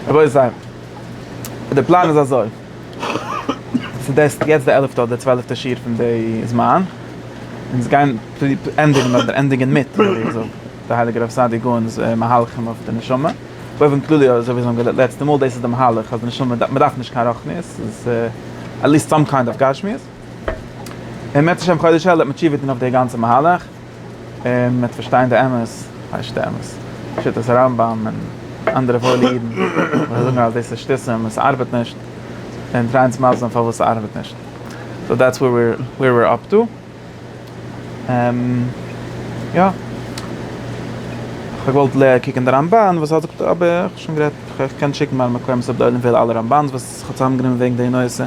רבותי, די פלאן איז אזוי, ס'איז יעצט די עלעפטע אדער צוועלעפטע שיעור פון די זמן, אונז גייען ענדיגן אדער ענדיגן מיט, אזוי ווי עס זאגט די הייליגער רב סעדי' גאון'ס מהלכים אויף די נשמה, באופן כללי אזוי ווי זאגן געלעצטע מאל, דאס איז די מהלך אז די נשמה מ'דארף נישט קיין רוחניות, ס'איז עטליעסט סאם קיינד אוו גשמיות. און בעז השם חודש אלול וועט מען תשובה טון אויף די גאנצע מהלך, און מ'וועט פארשטיין די אמת, הייסט די אמת, שיטת הרמב ם און אנדערע וואוילע אידן וואס זאגן אז דאס איז שטותים און ס'ארבעט נישט, און טרייען צו מסביר זיין פארוואס ס'ארבעט נישט. סאו דעטס ווער ווער וויר אפ טו. יא. כ'האב געוואלט קוקן די רמב ן וואס ער זאגט אבער כ'האב שוין גערעדט, כ'קען שיקן מיינע מקורות הגדולים פון אלע רמב ן'ס וואס. זיך האט צוזאמגענומען וועגן די נושא,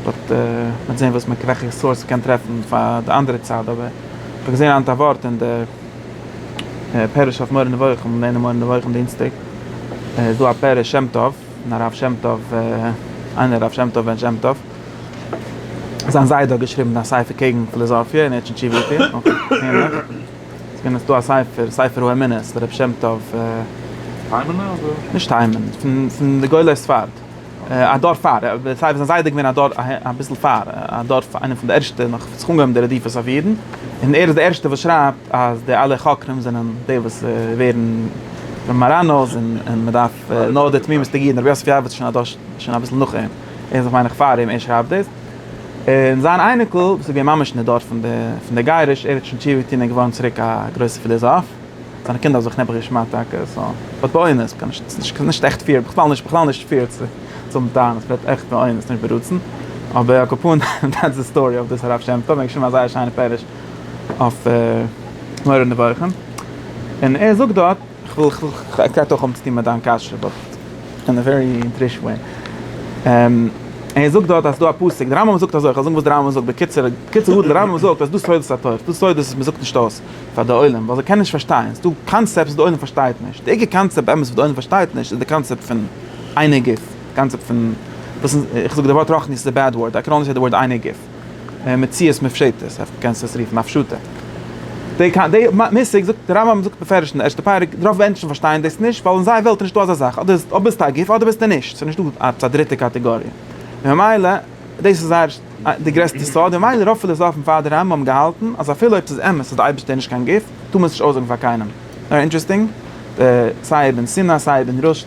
באט מ'וועט זעהן וואס מ'וועלכע סארס מ'קען טרעפן פאר די אנדערע צד, אבער איך האב געזעהן היינט א ווארט אין די פירוש אויף מורה נבוכים, געווען אין מורה נבוכים דינסטאג, איז דא א פירוש שם טוב, פון הרב שם טוב, איינער הרב שם טוב בן שם טוב, זיין זיידע האט געשריבן א ספר קעגן פיליזאפיע און ער האט שוין תשובה געטוהן, אויך ענליך. ס'איז געווען דא א ספר, ספר האמונה, ס'איז דער רבי שם טוב. היימענע אדער? נישט היימענע, פון די גדולי ספרד. א דור פאר, סיי ווי, זיין זיידע איז געווען א דור אביסל פאר, א דור פאר, איינער פון די ערשטע נאך וואס האט זיך אנגעהויבן די רדיפות אויף אידן. און ער איז דער ערשטער וואס שרייבט אז די אלע חוקרים זענען די וואס ווערן מאראנאס און מען דארף נאר די תמימות'דיגע אידן. רבי יוסף יעבץ איז שוין א דור, שוין אביסל נאך אים. ער איז נאך מיין איך פאר אים, ער שרייבט דאס. און זיין אייניקל וואס איז געווען ממש אין די דור פון די גירוש, ער האט שוין תשובה געטון און געווארן צוריק א גרויסער פילאזאף, זיינע קינדער האבן זיך נעבעך געשמדט טאקע, סא וועט באונעס, קען נישט, ס'איז נישט עכט פעיר, בכלל נישט, בכלל נישט פעיר צו האבן טענות, וועט עכט באונעס, נישט ברצון, אבער על כפון דעטס די סטארי אויף דאס הרב שם טוב, ער האט געשריבן א זייער שיינע פערש אויף מורה נבוכים, און ער זאגט דארט. כ'וויל, כ'וויל, ס'האט אויך האבן צוטון מיט דיין קשיא, באט אין א ווערי אינטרישן וועי. ער זאגט דארט אז ס'דא א פסוק, דער רמב ם זאגט אזוי, כ'וועל זאגן וואס דער רמב ם זאגט בקיצור, בקיצור גדול, דער רמב ם זאגט אז ס'דא סודות התורה, ס'דא סודות וואס מ'זאגט נישט אויס פאר די עולם, ווייל זיי קענען נישט פארשטיין, ס'דא קאנצעפטס וואס די עולם פארשטייט נישט, די עיקר קאנצעפט באמת וואס די עולם פארשטייט נישט איז די קאנצעפט פון איינער גוף, די קאנצעפט פון, איך זאג די ווארט רחניות איז א בעד ווארד, איי קען אנדער סעי די ווארד איינער גוף. מציאות מופשטת, אויף קענסט עס רופן א פשוטע די די מושג זאגט די רמב ם זאגט מפרש אין די ערשטע פרק רוב מענטשן פארשטייען דאס נישט ווייל אין זייער וועלט איז נישטא אזא זאך אדער אדער ביסטו א גוף אדער ביסטו נישט ס'איז נישטא עפעס א דריטע קאטעגאריע ממילא דאס איז זייער די גרעסטע סוד און ממילא רוב פילאזאפן פאר די רמב ם האבן געהאלטן אז אפילו אויב ס'איז אמת אז די אייבערשטער איז נישט קיין גוף טאר מען עס נישט אויסזאגן פאר קיינעם נאר אינטרעסטינג סיי אבן סינא סיי אבן רושד.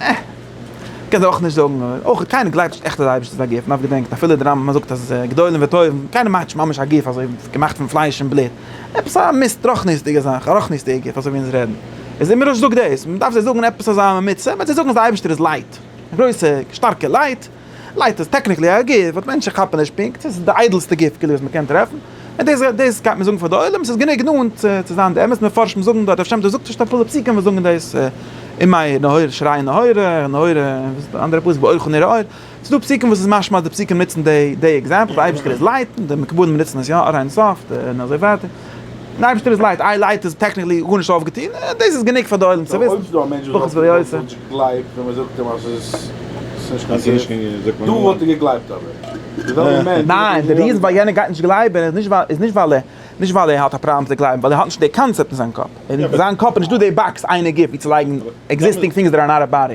אה! קען זיי אויך נישט זאגן, אויך קיינער גלייבט נישט עכט אז די אייבערשטער איז א גוף, נאר געדענקט אפילו די רמב ם זאגט אז גדולים וטובים, קיינער מאכט נישט ממש א גוף אזוי געמאכט פון פלייש און בלוט, עפעס א מיסט רוחניות'דיגע זאך, א רוחניות'דיגע גוף אזוי ווי אונז רעדן, איז אימער אז זאגט דאס, מען דארף זיי זאגן עפעס אזא עמיצער, וועט זיי זאגן אז די אייבערשטער איז לייט, גרויסע שטארקע לייט. לייט איז טעקניקלי א גוף, באט מענטשן כאפן נישט פונקט, עס איז די איידעלסטע גוף כאילו וואס מען קען טרעפן, און דאס דאס גייט מען זאגן פאר די עולם, עס איז גענוג נאנט צו צו זיין די אמת, מפרשים זאגן דארט, אפשר דאס זאגט נישט אפולו פסוקים וואס זאגן דאס, און מאיר נהורא שרייען נהורא נהורא, און וואס איז די אנדערע פסוק באורך ונראה אור, עס איז דא פסוקים וואס איז משמע אז די פסוקים נוצן די די עקזעמפל, די אייבערשטער איז לייט, די מקובלים נוצן עס יא עד אין סוף, און אזוי ווייטער. די אייבערשטער איז לייט, איי לייט איז טעקניקלי גארנישט אויפגעטון, דאס איז גענוג פאר די עולם צו וויסן. אויב איז דא א מענטש וואס האט געוואלט וואלט ער געגלייבט ווען מען זאגט אים אז עס איז נישט קיין זיוף? דא וואלט ער געגלייבט אבער די וועלכע מענטש וואס האט נישט געגלייבט וואלט נישט געגלייבט. איז נישט ווייל נישט ווייל ער האט א פראבלעם צו גלייבן, ווייל ער האט נישט די קאנצעפט אין זיין קאפ, אין זיין קאפ איז נישט דא די באקס איינער גיט ווי צו לייגן עקזיסטינג טינגס דעט אר נאט א באדי.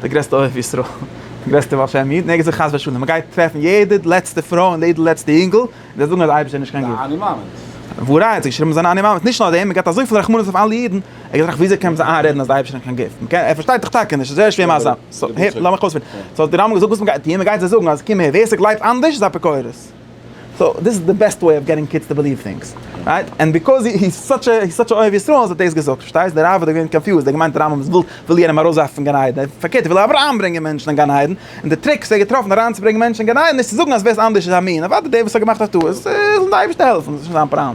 דער גרעסטער אוהב ישראל, דער גרעסטער בעל שם איד, נעגערט זיך חס ושלום, ער גייט טרעפן יעדע לעצטע פרוי און יעדע לעצטע אינגל, און זיי זאגן אז אייבערשטער איז נישט קיין גוט. אני מאמין'ס. וואו ר' איד האט געשריבן זיין אני מאמין'ס, נישט נאר דעם, ער געט אזויפיל רחמנות אויף אלע אידן, ער געט זיך ווי אזוי קען מען זיך איינרעדן אז דער אייבערשטער איז נישט קיין גוט, מען קען, ער פארשטייט דאך טאקע נישט, עס איז זייער שווער מסביר, סאו הער, לאמיך אויספירן, סאו האט דער רמבם געזאגט וואס מען גייט טון, מען גייט זיי זאגן אז קום הער, ווער ס'גלייבט אנדערש איז אפיקורס. סאו דאס איז די בעסטע וועי אוו געטינג קידס טו בעליוו טינגס, רייט? ענד ביקאוז הי איז סאטש א סאטש א אוהב ישראל האט ער דאס געזאגט, פארשטייסט? די רב האט דאך געווען קאנפיוזד, ער האט געמיינט רמב ם וויל וויל יענעם ארויסווארפן פון גן עדן, פארקערט ער וויל אבער אריינברענגען מענטשן אין גן עדן, און די טריק וואס ער האט געטראפן אריינצוברענגען מענטשן אין גן עדן איז צו זאגן אז ווער עס אנדערש איז א מין, אוודאי דער וואס האט געמאכט א טעות זאל זיך די אייבערשטער העלפן, דאס איז שוין זיין פראבלעם.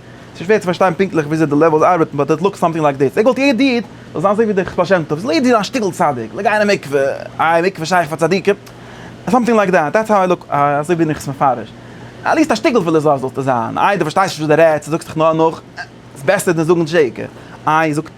ס'איז שווער צו פארשטיין פונקטליך וויאזוי די לעוועלס ארבעטן באט איט לוקס סאמטינג לייק דיס, איך וואלט יעדע איד זאל זיין אזוי ווי דער בעל שם טוב, זאל יעדע איד זיין א שטיקל צדיק, זאל גיין אין מקווה, איי מקווה איז שייך פאר צדיקים? סאמטינג לייק דעט, דעטס האו איי לוק, אזוי בין איך עס מפרש, עטליעסט א שטיקל פיליזאף זאלסטו זיין, איי דו פארשטייסט נישט וואס דו רעדסט, דו זאגסט דיך נאר נאך, ס'איז בעסער דען זאגן שקר, איי זאג.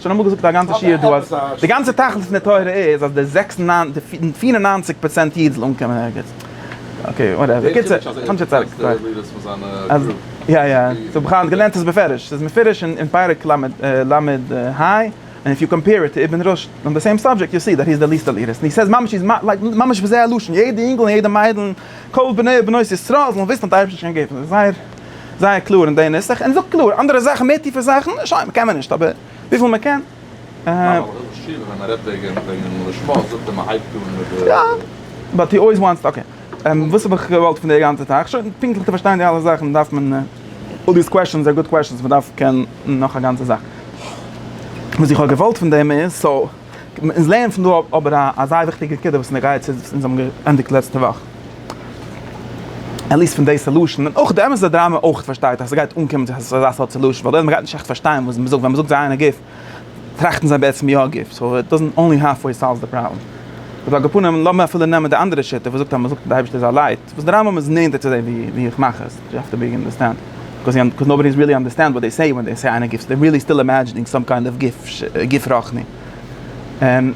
שוין אמאל געזאגט א גאנצע שיעור דא אז די גאנצע תכלית פון די תורה איז אז די זעקס און ניין די פֿיר און נײַנציק פראצענט איד זאל אנקומען ערגעץ אקעי וואטעווער יא יא סאו בכלל האט געלערנט עס בפירוש ס'איז מפורש אין פרק ל ל עמוד ה און איף יו קאמפעיר איט טו איבן רשד אן די סעים סאבדזשעקט יו סי דעט היז די ליסט עליעט און היז סעיז ממש היז לייק ממש בזה הלשון יעדע אינגל און יעדע מיידל כל בני ובנות ישראל זאלן וויסן אז די אייבערשטער איז שוין געווען זייער זייער קלאר אין די נוסח און זאגט קלאר אנדערע זאכן מער טיפע זאכן שוין קען מען נישט אבער וויפיל מען קען יא באט הי אלוועיס וואנטס אקעי וואס האב איך געוואלט פון די גאנצע זאך שוין פונקטליך צו פארשטיין די אלע זאכן דארף מען אלל דיס קוועשאנס אר גוד קוועשאנס מען דארף קענען נאך א גאנצע זאך וואס איך האב געוואלט פון דעם איז סאו. אונז לערנען פון דא אבער א אזא וויכטיגע נקודה וואס אונז גייען צו, אונז האבן געענדיגט לעצטע וואך, עטליסט פון די סעלושען, און אויך די אמת'ע דראמא אויך פארשטייט אז ס'גייט אנקומען צו אזא סארט סעלושען, ווייל די עולם גייט נישט עכט פארשטיין וואס מ'זאגט, ווען מ'זאגט זיי איינער גוף, טראכטן זיי בעצם יא גוף, סאו איט דאזענט אנלי האלף וועי סאלוו די פראבלעם. אבער על כל פנים, לאמיר אפילו נעמען די אנדערע שיטה וואס זאגט אז מ'זאגט אז די אייבערשטער איז א לייט. וואס די רמב ם איז נענטער צו זיי ווי ווי איך מאך עס, יו העוו טו ביג אנדערסטענד, ביקאוז קאוז נאובאדי איז ריעלי אנדערסטענד וואט דעי סעי ווען דעי סעי אן א גיף, דער ריעלי סטיל אימעדזשינינג סאם קיינד אוו גיף גיף רוחני, און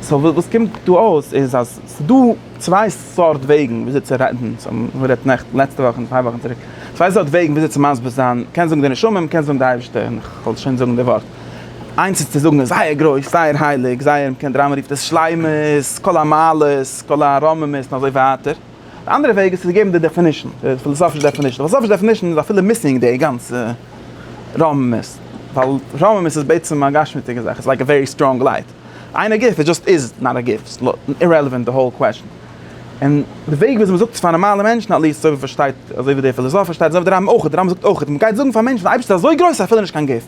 סאו וואס קומט דא אויס איז אז ס'איז דא צוויי סארט וועגן וויאזוי צו רעדן, סאו מ'האט גערעדט נעכטן לעצטע וואך און צוויי וואכן צוריק, צוויי סארט וועגן וויאזוי צו מסביר זיין, מ'קען זאגן די נשמה, מ'קען זאגן די אייבערשטער, און כ'וועל שוין זאגן די ווארט. איינס איז צו זאגן זייער גרויס, זייער הייליג, זייער מ'קען דער רמב ם רופט עס שלימות, כל המעלות, כל הרוממות, און אזוי ווייטער. די אנדערע וועג איז צו געבן די דעפינישן, די פילאזאפישע דעפינישן. די פילאזאפישע דעפינישן איז אפילו מיסינג די גאנצע רוממות. ווייל רוממות איז בעצם א גשמיות'דיגע זאך, איטס לייק א ווערי סטראנג לייט. אין א גוף, איט זשאסט איז נאט א גוף. איטס אירעלעווענט די האול קוועשאן. און די וועג וויאזוי מ'זאגט עס פאר נארמאלע מענטשן, אטליעסט אזוי ווי מ'פארשטייט, אזוי ווי דער פילאזאף פארשטייט, אזוי ווי דער רמב ם אויך. דער רמב ם זאגט אויך, מ'גייט זאגן פאר מענטשן, די אייבערשטער איז אזוי גרויס אפילו נישט קיין גוף.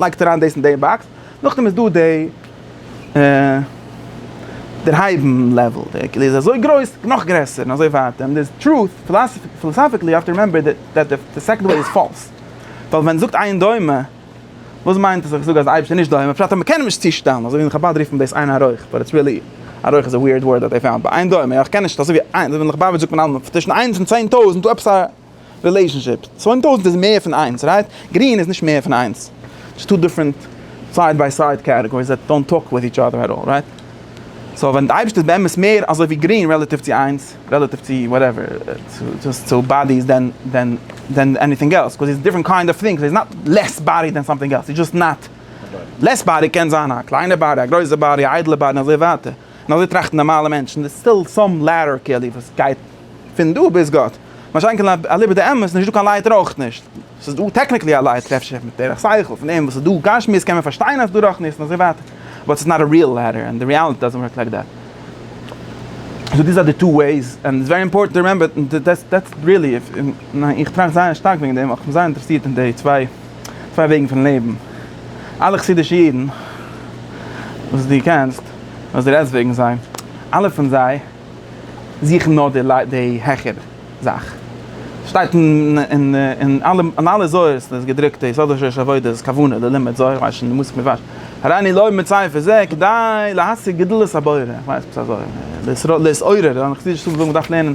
לייגט אריין דאס אין די באקס, נאכדעם איז דא די דערהייבן לעוועל, די כלי איז אזוי גרויס, נאך גרעסער, און אזוי ווייטער, און די טרוט, פילאסאפיקלי יו האוו טו רימעמבער דעט די סעקאנד וועי איז פאלס, ווייל ווען מ'זאגט איין דומה, וואס מיינט עס אז איך זאג אז די אייבערשטער איז נישט דומה, בפרט אז מ'קען אים נישט צושטעלן, אזוי ווי אין חבד רופט מען דאס איין הרויך, באט איטס ריעלי, א רויך איז א וויערד ווארד דעט דעי פאונד, בה איין דומה, איך קען נישט, אזוי ווי איינס, אזוי ווי אין חבד זאגט מען אלעמאל צווישן איינס און צען טויזנט, דא עפעס א. רילעישאנשיפ. צוויי טויזנט איז מער פון איינס, רייט? גרין איז נישט מער פון איינס. ס'איז טו דיפרענט סייד ביי סייד קעטעגאריס דעט דאנט טאלק וויט איטש אדער עט אלל, רייט? סאו ווען די אייבערשטער איז באמת מער אזוי ווי גרין רעלאטיוו צו איינס, רעלאטיוו צו וואטעווער, צו באדיס דען דען דען עניטינג עלס, קאוז איז דיפרענט קאינד אוו טינגס, איז נאט לעס באדי דען סאמטינג עלס, איז דזשאסט נאט. לעס באדי קען זיין א קליינע באדי, א גרויסע באדי, א איידלע באדי און אזוי ווייטער. און אזוי טראכטן נארמאלע מענטשן, דער סטיל סאם לעדער כלי וואס גייט פון דא ביז גאט, מה שאין כן אליבא דאמת איז נישטא קיין לייטער אויך נישט, ס'איז דא טעקניקלי א לייטער אפשר מיט דרך שכל פון דעם וואס איז דא גשמיות קען מען פארשטיין אז ס'איז דא רוחניות און אזוי ווייטער, באט ס'איז נאט א ריעל לעדער און די ריעליטי דאזענט ווארק לייק דעט. סאו דיס אר די טו וועיס און איטס ווערי אימפארטענט טו רימעמבער דעטס ריעלי, איך טראכט זייער שטארק וועגן דעם ווייל כ'בין זייער אינטערעסירט אין די צוויי. צוויי וועגן פון לעבן. אלע חסידישע אידן וואס דו קענסט, וואס דו רעדסט וועגן זיי, אלע פון זיי זוכן נאר די די העכערע זאך. ס'שטייט אין אין אלע זוהר'ס איז געדרוקט דאס, אדער שורש עבודה, כוונה, די לימוד זוהר, כ'ווייס נישט די מושג מיט וואס, הריני לוי' מצאי פון זה כדי להשיג גדלות הבורא, כ'ווייס עפעס אזוי, להתעורר, און חסידישע ספרים זאגן מ'דארף לערנען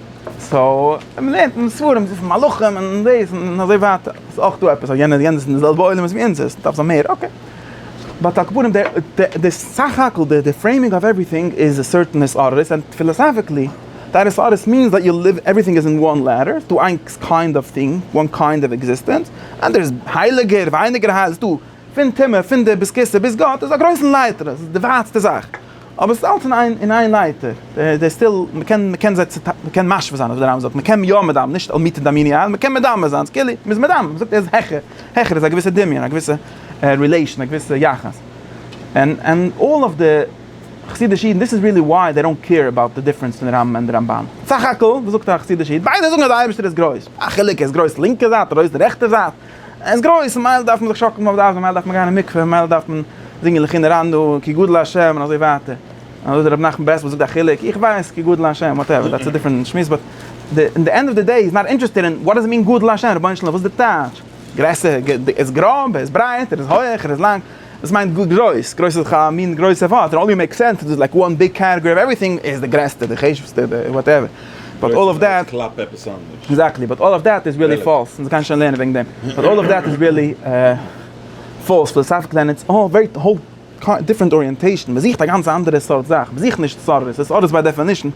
סאו מען לערנט אין די ספרים זיפן מלאכים און דאס און אזוי ווייטער איז אויך דא עפעס אז יענער יענער איז אין די זעלבע עולמות ווי אונז איז דארף זיין מער אקעי באט על כל פנים די סך הכל די פרעימינג אוו עווריטינג איז א סערטען הסערות ענד פילאסאפיקלי דיין הסערות מיענס דעט יו ליוו עווריטינג איז אין וואן לעדער ס'איז דא איין קיינד אוו טינג וואן קיינד אוו עקזיסטענס ענד דער איז הייליגער ווייניגער הייליג ס'איז דא פון טומאה פון די ביז כסא ביז גאט איז א גרויסן לייטער עס איז די ווייטסטע זאך. אבער עס איז אלץ אין איין אין איין לייטער, דער סטיל, מען קען מען קען זיי צו מען קען משווה זיין, אזוי ווי דער רמב ם זאגט, מען קען יא מדמה, נישט על מיתא דאמיני על, מען קען מדמה זיין, ס'איז כאילו מען איז מדמה, מען זאגט ער איז העכער, העכער איז א געוויסע דמיון, א געוויסע רילעישאן, א געוויסע יחס, ענד ענד אלל אוו די חסידישע אידן, דיס איז ריעלי וויי זיי דאנט קעיר אבאוט די דיפרענס פון די רמב ם ענד די רמב ן, סך הכל וואס זאגט א חסידישע איד, ביידע זאגן אז די אייבערשטער איז גרויס, א חילוק ער איז גרויס לינקע זייט, גרויס רעכטע זייט, עס גרויס, ממילא דארף מען זיך שאקלן אויף די אייזן, ממילא דארף מען גיין אין מקווה, ממילא דארף מען זינגען לכי נרנדו, כי גדול ה' און אזוי ווייטער, און אזוי דער רבי נחמן ברסלב זאגט א חילוק, איך ווייס כי גדול ה', וואטעווער, דעטס א דיפרענט שמועס, באט אין די ענד אוו די דעי איז נאט אינטערעסטעד אין וואט דאס איט מין גדול ה', רבונו של עולם וואס איז די טייטש? גרעסער? ער איז גראב? ער איז ברייט? ער איז הויעך? ער איז לאנג? דאס מיינט גרויס, גרויס איז דאך א מין גרויסע ווארט, און אולי מעיק סענס איז לייק וואן ביג קעטעגארי אוו עווריטינג איז די גרעסטע, די חשובסטע, די וואטעווער, באט אלל אוו דעט, עקזעקטלי, באט אלל אוו דעט איז ריעלי פאלס, אונז גייען שוין לערנען וועגן דעם, באט אלל אוו דעט איז ריעלי פאלס, פיליסאפיקלי און איטס אן ווערי האול דיפרענט אריענטעישן, מען זוכט א גאנץ אנדערע סארט זאך, מען זוכט נישט סארס, א סארס ביי דעפענישן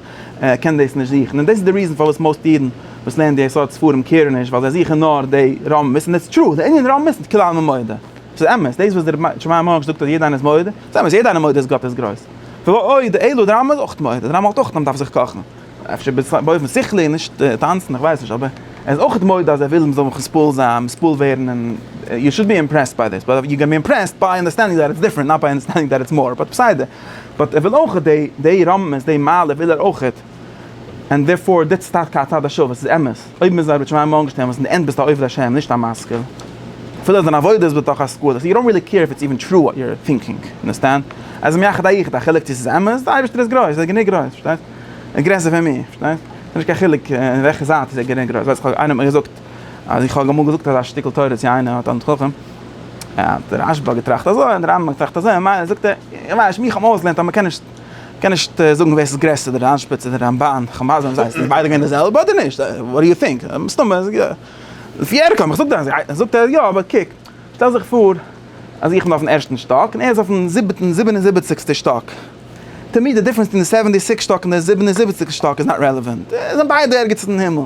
קען דאס נישט זוכן, און דאס איז די ריזען פארוואס מאוסט אידן וואס לערנען די סארט ספרים קעירן נישט, ווייל זיי זוכן נאר די רמז, און איטס טרו, די ענין רמז איז כולנו מודה. ס'איז אמת, דאס וואס דער שמאי המהר ש זאגט אז יעדער איינער איז מודה, ס'איז אמת, יעדער איינער מודה אז גאט איז גרויס. ועוד, די אלו, די רמב ם איז אויך מודה, די רמב ם האלט אויך אז מ'דארף זיך קאכן. אפשר באופן שכלי און נישט טאנצן, איך ווייס נישט, אבער ער איז אויך מודה אז ער וויל מ'זאל מספול זיין, מספול ווערן און יו שוד בי אימפרעסד ביי דיס, באט יו קען בי אימפרעסד ביי אנדערסטענדינג דעט איטס דיפרענט, נאט ביי אנדערסטענדינג דעט איטס מאר, באט בסדר. באט ער וויל אויך, די רמב ם'ס די מעלה וויל ער אויך. ענד דערפאר דעטס טאקע א צד השווה, ס'איז אמת, אויב מ'איז א רבי שמעי' מארגענשטערן וואס אין די ענד ביסטו א עובד השם נישט א משכיל, אפילו אז דיין עבודה איז בתוך השכל, יו דאנט רילי קעיר איף איטס איווען טרו וואט יו אר טינקינג, אנדערסטענד? אז אים יחד היחיד, א חילוק צו ס'איז אמת, די אייבערשטער איז גרויס, ער איז גענוג גרויס, פארשטייסט? ער איז גרעסער פון מיר, פארשטייסט? ס'איז נישט קיין חילוק אין וועלכע זייט איז ער גענוג גרויס, ווייסט איך איינער האט מיר געזאגט אז איך האב אמאל געזאגט אזא שטיקל תורה צו איינער א תלמיד חכם, האט רשב א געטראכט אזוי און די רמב ם האט געטראכט אזוי, ממילא זאגט ער, איך ווייס נישט, מיר האבן אויסגעלערנט אז מ'קען נישט. קען נישט זאגן ווער ס'איז גרעסער די רנ שפ צו די רמבן, חמז א, זענען ביידע געווען די זעלבע אדער נישט? וואט דו יו טינק? מסתמא איז יא. לפי ערכם, איך זאג דיר אז ער זאגט אז יא, אבער קוק, שטעל זיך פאר אז איך בין אויפן ערשטן שטאק און ער איז אויפן זיבעטן, זיבן און זיבעציגסטע שטאק, טו מיר די דיפרענס פון די סעווענטי סיקס שטאק און די זיבן און זיבעציגסטע שטאק איז נאט רעלעווענט, זענען ביידע ערגעץ אין הימל.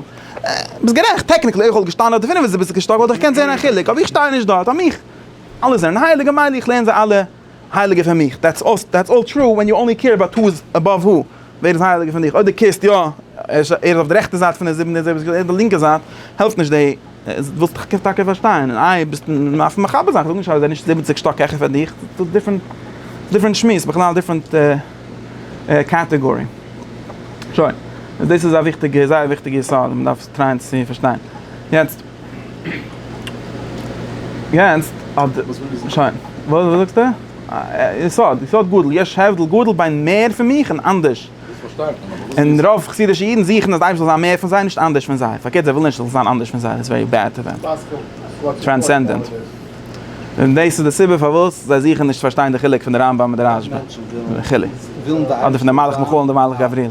ביסט גערעכט, טעקניקלי אויב איך וואלט געשטאנען אויף די פינף און זיבעציגסטע שטאק וואלט איך געקענט זען א חילוק, אבער איך שטיי נישט דארט, פאר מיך אלע זענען הייליג ממילא איך לערן זיי אלע. הייליגער פון מיך, דעטס אויס דעטס אלל טרו ווען יו אנלי קעיר אבאוט הו איז עבאוו הו, ווער איז הייליגער פון דיך, אויב דו קעירסט יא ער איז ער איז אויף די רעכטע זייט פון די זיבן דער זעלבע ער איז די לינקע זייט, העלפט נישט די ווילסט דיך קענסט טאקע פארשטיין און איי ביסט מיינסט מחבר זיין, כ'זאג נישט אז ער איז נישט זיבעציק שטאק העכער פון דיך, דאס דיפרענט דיפרענט שמועס בכלל דיפרענט קעטעגארי. שוין, דאס איז א וויכטיגע זייער וויכטיגע יסוד וואס מ'דארף טרייען צו פארשטיין יעצט. יעצט האט שוין וואס זאגסטו? יסוד יסוד גדול יש הבדל גדול בין מער פון מיך און אנדערש. און רוב חסידישע אידן זוכן אז די אייבערשטער זאל זיין מער פון זיי נישט אנדערש פון זיי. פארקערט זיי ווילן נישט איך זאל זיין אנדערש פון זיי דאס ווערי בעד טו דעם. טרענסענדענט. און דאס איז די סיבה פארוואס זיי זוכן נישט צו פארשטיין די חילוק פון די רמב ם און די רש ב. וכו'. אדער פון די מלאך מיכאל און די מלאך גבריאל.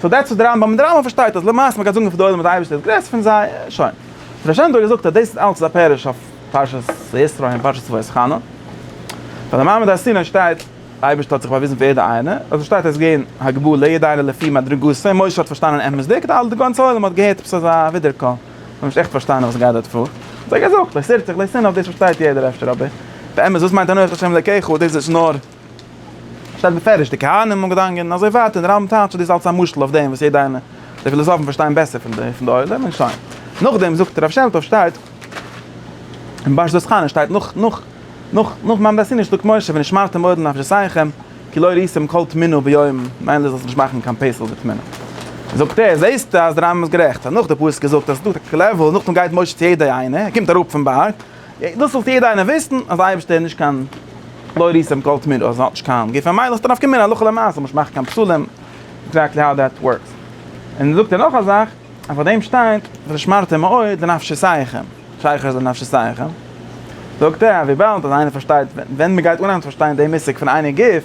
סאו דעטס וואט די רמב ם, די רמב ם פארשטייט אז למעשה מ'גייט זאגן פאר די עולם אז די אייבערשטער איז גרעסער פון זיי, שוין. דער בעל שם טוב האט געזאגט אז דאס איז אלץ א פירוש אויף פרשת וישרא און פרשת ואסכנה. ביי די מעמד הר סיני שטייט די אייבערשטער האט זיך באוויזן פאר יעדע איינער, אזוי שטייט ער איז געווען הגבול ליעדע איינער לפי מדרגתו, משה האט פארשטאנען אמת'דיג, די אלע די גאנצע עולם האט געהערט עפעס אזא ווידער קול, מ'האט נישט עכט פארשטאנען וואס גייט דארט פאר. אזוי געזאגט, אויף סערצעך לייסען אויף דאס פארשטייט יעדער אפשר אבער באמת וואס מיינט אנוכי השם אלקיך, דאס איז נאר. שטייט בפירוש די כהנים האבן געדאנגען און אזוי ווייטער און די רמב ם טייטשט דאס אלץ א משל אויף דעם וואס יעדע איינע די פילאזאפן פארשטיין בעסער פון די פון די עולם און שוין נאכדעם זאגט הרב שם טוב שטייט און באש דאס חנה שטייט נאך נאך נאך נאך מעמד הר סיני שטאגט משה ונשמרתם מאוד לנפשותיכם כי לא יריסם כל טמינו ביום מילא זאלסט נישט מאכן קיין פסל וטמינו זאגט ער זעהסטו אז די רמב ם איז גערעכט אז נאך די פסוק איז געזאגט אז ס'איז דא א טעקטיקל לעוועל נאכדעם גייט משה צו יעדע איינע ער קומט אראפ פון בארג. דאס זאלט יעדער איינער וויסן אז די אייבערשטער איז נישט קיין לא ריסעם כל תמיד אז ער האט נישט קיין גוף ממילא איז דאס נפקא מינה הלכה למעשה נישט מאכן קיין פסלים עקזעקטלי האו דעט ווארקס און זאגט ער נאך א זאך אז פאר דעם שטייט ושמרתם מאוד לנפשותיכם שייכות לנפשותיכם זאגט ער אז וויבאלד אז איינער פארשטייט ווען מ'גייט אנהייבן צו פארשטיין דעם מושג פון עיני גוף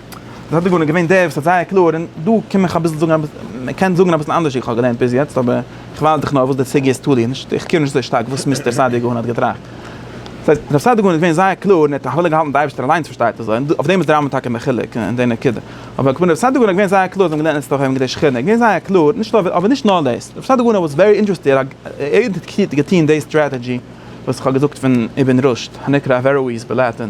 דאס האט דגנון געווען דער וואס האט זייער קלאר, און דא קום איך אביסל זאגן אביס, מען קען זאגן אביסל אנדערש ווי איך האב געלערנט ביז יעצט, אבער איך ווייז דיך נאר וואס די סוגיא איז תלוי, נישט איך קעיר נישט אזוי שטארק וואס מיסטער סעדיגורא און האט געטראכט. דאס הייסט, רב סעדיגורא איז געווען זייער קלאר און ער האט תפלה געהאלטן די אייבערשטער אליינס פארשטייט אזוי, און אויף דעם איז די רמב ם טאקע מחולק אין די נקודה. אבער כבין רב סעדיגורא איז געווען זייער קלאר, זיי האבן געלערנט אצטער הויען מקדש שכינה, איז געווען זייער קלאר, נישט אויף אבער נישט נאר דאס, רב סעדיגורא וואס ווערי אינטערעסטי ער האט געטון די סטראטעדזשי וואס איך האב געזאגט פון אבן רושד הנקרא אווערואיז בלעטען.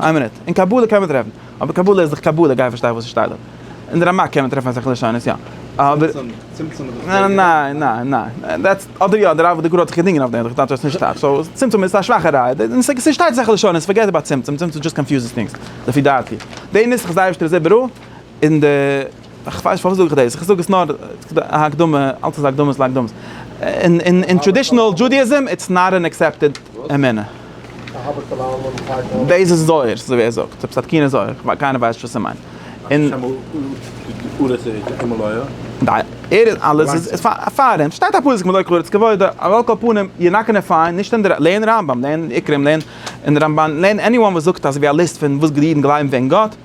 איין מינוט, אין קבלה קען מען טרעפן, אבער קבלה איז דאך קבלה, גיי פארשטיי וואס עס שטייט דארט. אין די רמק קען מען טרעפן אסאך לשונות יא, אבער. צמצום איז דאך ניי ניי ניי ניי, דעטס, אדער יא, דער רב ודגל האט זיך געדינגען אויף דעם, דאך טייטש אז עס נישט טייטש, סאו צמצום איז א שוואכע ראיה, אין ס' ס' שטייט אסאך לשונות, פארגעט איבער צמצום, צמצום דזשאסט קאנפיוזעס טינגס, לפי דעתי. די נוסח איז אייבערשטער זיבערא, אין די. איך ווייס נישט פארוואס זאג איך דאס, איך זאג עס נאר א הקדמה, אלץ איז הקדמות להקדמות. אין טראדישענעל דזשודעאיזם איטס נאט ען עקסעפטעד אמונה. דאס איז זוהר, ס'איז אזוי ווי ער זאגט, עפעס א תקין זוהר, קיינער ווייסט נישט וואס ער מיינט. האסט שוין אמאל ארץ ארץ אמאלויער? אלעס איז פאר אים, שטייט א פסוק מלא קלאר את כבודו, אבער על כל פנים, יור נאט גאנע פיינד, נישט אין די, לערן רמב ם, לערן עיקרים, לערן אין די רמבן, לערן עניוואן וואס זאגט אזויווי א ליסט פון וואס די אידן גלייבן וועגן גאט.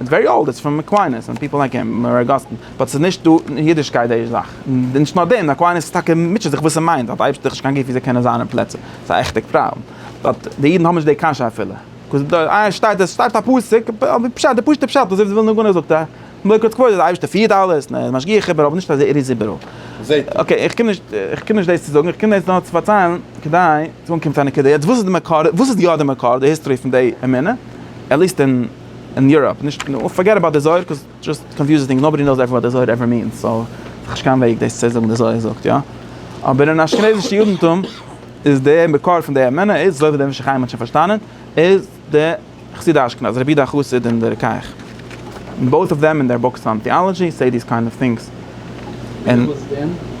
איטס ווערי אולד, איטס פון אקוויינעס און פיפל לייק הים, און אגאסטין, באט ס'איז נישט דא אין אידישקייט די זאך, און נישט נאר דעם, אקוויינעס איז טאקע מוטשעט זיך וואס ס'מיינט אז די אייבערשטער האט נישט קיין גוף ווי זיי קענען זיין אין פלעצער, ס'איז א עכטיג פראבלעם, באט די אידן האבן נישט די קשיא אפילו, קאז דא איי שטייט עס שטייט א פסוק, על פי פשט די פשוטע פשט אזוי ווי ווילנא גאון זאגט א ברכות כבוד אז די אייבערשטער פירט אלעס און ער איז משגיח איבער אבער נישט אז ער איז איבעראל. אקעי איך קום נישט איך קום נישט דאס צו זאגן איך קום דאס נאר צו פארציילן כדי צו אנקומען צו א נקודה, יעצט וואס איז די מקור וואס איז יא די מקור די היסטארי פון די אמונה עטליעסט אין. אין יוראפ, נישט נאר, פארגעט אבאוט די זוהר, קאוז איט דזשאסט קאנפיוזעס טינגס, נאובאדי נאוס וואט די זוהר עווער מינס, סאו האב איך קיין וועג דאס צו זאגן די זוהר זאגט יא, אבער אין אשכנזישע יודנטום איז די מקור פון די אמונה איז, אזוי ווי דער משך חיים האט שוין פארשטאנען, איז די חסידי אשכנז, רבי די חסיד און די רוקח, און בויט אוו דעם און דער בוקס אן טעאלאדזשי סעי דיס קיינד אוו טינגס, און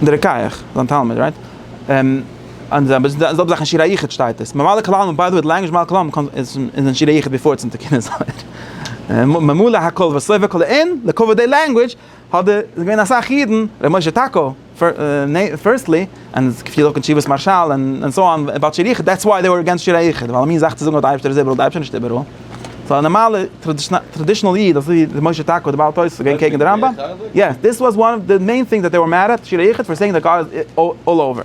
די רוקח, זיין תלמיד, רייט? און די זעלבע זאך אין שיר היחוד שטייט עס, ממלא כל העלמין, ביי די וועי די לענגוויזש ממלא כל העלמין קומט איז אין שיר היחוד ביפאר איטס אין תיקוני זוהר, ממלא הכל וסובב כל העין, לכבוד די לענגוויזש האט די איז געווען אסאך אידן, ר' משה טאקא פירסטלי, און עס געפירט אויך אין תשובת מהרשל און סאו אן אבאוט שיר היחוד, דעטס וויי דעי ווער עגענסט שיר היחוד, ווייל א מין זאך צו זאגן אז די אייבערשטער איז איבעראל, די אייבערשטער נישט איבעראל, סאו א נארמאלע טראדישנעל איד אזוי ווי ר' משה טאקא די בעל תוס' איז געווען קעגן די רמב ם, יעס דיס וואס וואן אוו די מעין טינגס דעט דעי ווער מעד עט שיר היחוד פאר סעינג דעט גאד איז אלל אווער.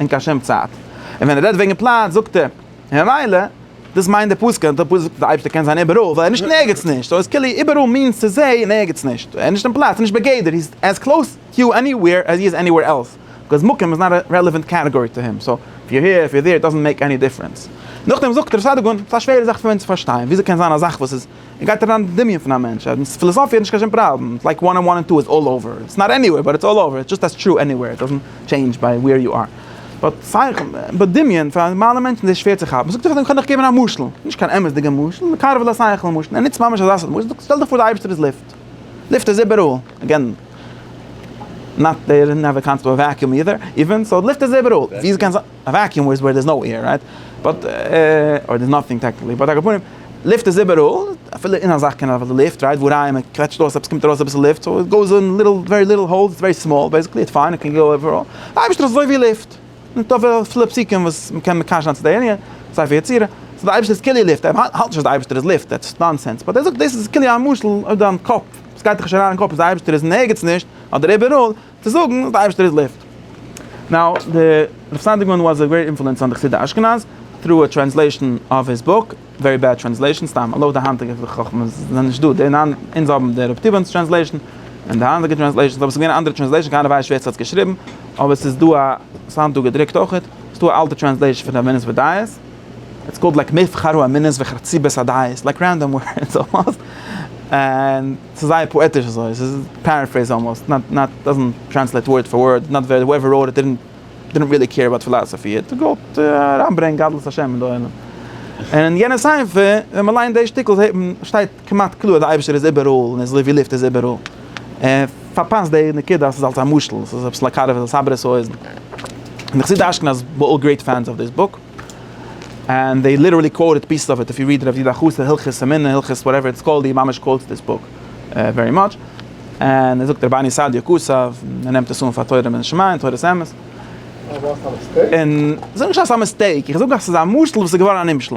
אין קיין שום צייט, און ווען ער רעדט וועגן פלאץ זאגט ער ממילא דאס מיינט די פסוק, און די פסוק זאגט אז די אייבערשטער קען זיין איבעראל ווייל ער איז נישט אין ערגעץ נישט, סאו איז כאילו איבעראל מיענס צו זיי אין ערגעץ נישט, ער איז נישט אין פלאץ, ער איז נישט בגדר, הי איז עז קלאוס יו עני וועיר עז הי איז עני וועיר עלס, ביקאוז מקום איז נאט א רעלעווענט קעטעגארי טו הים, סאו איף יו העיר, איף יו דעיר, איט דאזענט מעיק עני דיפרענס. נאכדעם זאגט ר' סעדיגון, ס'איז א שווערע זאך פאר אונז צו פארשטיין, וויאזוי קען זיין א זאך וואס איז. און גייט אריין אין דמיון פון א מענטש, אז מיט פילאזאפיע איז נישט קיין שום פראבלעם, איטס לייק וואן ענד וואן ענד טו איז אלל אווער, איטס נאט עניווער באט איטס אלל אווער, איטס דזשאסט עז טרו עניווער, איט דאזענט טשעינדזש ביי ווער יו אר. באט סייך, ביי דמיון, פאר א נארמאלע מענטש איז דאס שווער צו כאפן, זאגט ער איך קען דיך געבן א משל, נישט קיין אמת'דיגע משל, מקרב אל השכל משל, ער נוצט ממש אזא סארט משל, שטעל דיך פאר די אייבערשטער איז לופט, לופט איז איבעראל, אגעין, נאט דער, נעווער קאמס טו א וועקיום אידער, איווען, סאו לופט איז איבעראל, ווי איז עס גייען זיין? א וואקיום איז ווער דער איז נאו עיר רייט? באט אדער דער איז נאטינג טעקניקלי באט על כל פנים לופט איז איבעראל אפילו אין א זאך קען אויף די לופט רייט ווארייען מען קוועטשט אויס עפעס קומט ארויס אביסל לופט סאו איט גאוס אין ליטעל ווערי ליטעל האלס איטס ווערי סמאל בעסיקלי איטס פיין איט קען גאו עוועראל די אייבערשטער איז אזוי ווי לופט מיט אביסל פסוקים וואס מען קען מקשר זיין צו די ענין סיי פאר יצירה סאו די אייבערשטער איז כאילו לופט איך האלט נישט אז די אייבערשטער איז לופט דעטס נאנסענס באט ער זאגט דאס איז כאילו א משל אויף דיין קאפ עס גייט דיך נישט אריין אין קאפ אז די אייבערשטער איז אין ערגעץ נישט אדער איבעראל צו זאגן אז די אייבערשטער איז לופט. נאו, די רב סאנדיגמאן וואס איז א גרעיט אינפלוענס אן די חסידי אשכנז, טרו א טרענסלעישאן אוו היז בוק, ווערי בעד טרענסלעישאן, סתם לויט די היינטיגע חכמה זענען נישט דא, די נאן אונז האבן די רב טיבאן'ס טרענסלעישאן, און די היינטיגע טרענסלעישאנס, אבער עס איז געווען א אנדערע טרענסלעישאן, קיינער ווייסט נישט ווער עס האט עס געשריבן, אבער עס איז דא א, עס היינט דא געדרוקט אויכעט, עס איז דא א אלטע טרענסלעישאן פון די אמינות ודעות, איטס קאלד לייק מבחר האמינות וחרציבת הדעות, לייק רענדאם ווארדס אלמאסט, ענד. ס'איז זייער פאעטיש אזוי, ס'איז פערעפרעיז אלמאסט, נאט נאט דאזענט טרענסלעיט ווארד פאר ווארד, נאט ווער הועווער ראוט איט דידענט ריעלי קעיר אבאוט פילאזעפי, ער האט געוואלט אריינברענגן גדלות השם אין די עולם. און אין יענע ספר ווען מען ליינט די שטיקל זעהט מען, שטייט כמעט קלאר אז די אייבערשטער איז איבעראל און איז אזוי ווי לופט איז איבעראל. ער פארפאסט די נקודה אז ס'איז אלס א משל, ס'איז עפעס לאקאליוו, ס'איז א סברא סאיז, און די חסידי אשכנז ווער אלל גרעיט פענס אוו דיס בוק. און זיי ליטערלי קוואוטעד פיסעס אוו איט איף יו ריעד רב זי ד א חוץ די הלכות אמונה הלכות וואטעווער איטס קאלד הי ממש קוואוטס דיס בוק ווערי מאטש און ער זאגט רבני סעדיה ק ס און ער נעמט עס אן פאר תורה מן השמים תורת אמת און זאג נישט אז ס'איז א מיסטעיק איך זאג אז ס'איז א משל וואס איז געווארן א נמשל.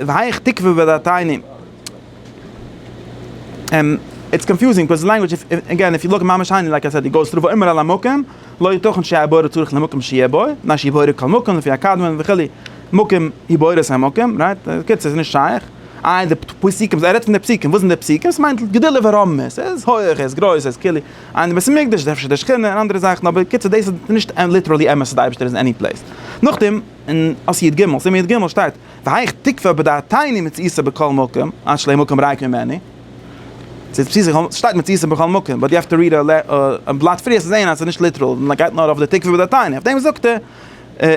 והייך תקוה בדתינו. איטס קאנפיוזינג ביקאוז די לענגוויטש איז עגעין איף יו לוק ממש היינט לייק איי סעד איט גאוס טרו פאר אימער על המקום לא יתכן שיהיה הבורא צריך למקום שיהיה בו מפני שיבורא כל מקום לפי הקדמון וכו' מקום היא בוראת המקום רייט בקיצור ס'נישט שייך איי די פסוקים ער רעדט פון די פסוקים וואס זענען די פסוקים עס מיינט גדולה ורמה ס'איז הויעך איז גרויס איז כאילו איין בית המקדש איז אפשר די שכינה און אנדערע זאכן אבער בקיצור דאס איז נישט ליטערלי אמת אז די אייבערשטער איז אין עני פלעיס נאכדעם. און אויף יד ג', סימן יד ג', שטייט, והיכ תקפא בדעתיני מציאותא בכל מקום, עד שלא יהיה מקום ריק ממני. ס'שטייט מציאותא בכל מקום, באט יו העוו טו ריעד א בלאט פריער צו זעהן אז ס'איז נישט ליטעראל, און ער גייט נאר אויף די תקפא בדעתיני, אויף דעם זאגט ער,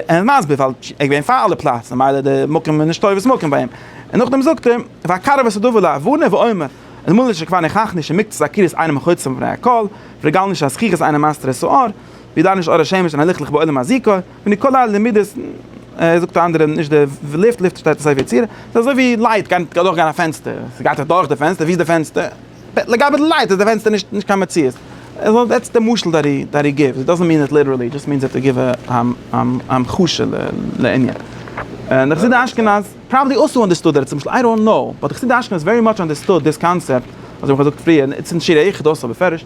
און מסביר ווייל ער איז געווען פאר אלע פלאץ, ממילא די מקום איז נישט טובת מקום ביי אים. און נאכדעם זאגט ער, והקרב את הדבר להבנה ואומר, אז מילא שכבר ניחך נישט אין מקצת הכירות איינעם מחוצף מפני הכל, פרעג אל נישט א זכיחות איינעם מאסטער את האור, ווי דאן איז אור השמש אין א ליכטליך בעולם הזיכוי, מיט כל הלמידות, ער זאגט א אנדערע נישט די לופט, לופט שטייט אין ספר יצירה, ס'איז אזוי ווי לייט גייט אדורך גיין א פענסטער, ס'גייט דאך דורך די פענסטער, ווי איז די פענסטער? לגבי די לייט איז די פענסטער נישט נישט קיין מציאות, אזוי דעטס די משל דעט הי דעט הי גיווס, דאזענט מין איט ליטערלי, דזשאסט מינס דעט הי גיוו א המחשה לענין. און די חסידי אשכנז פראבעבלי אלסא אנדערסטוד דעט משל, איי דאנט קנאו, באט די חסידי אשכנז ווערי מאטש אנדערסטוד דיס קאנסעפט, אזוי ווי כ'האב געזאגט פריער, נישט אין שירי איכה דאסא בפירוש,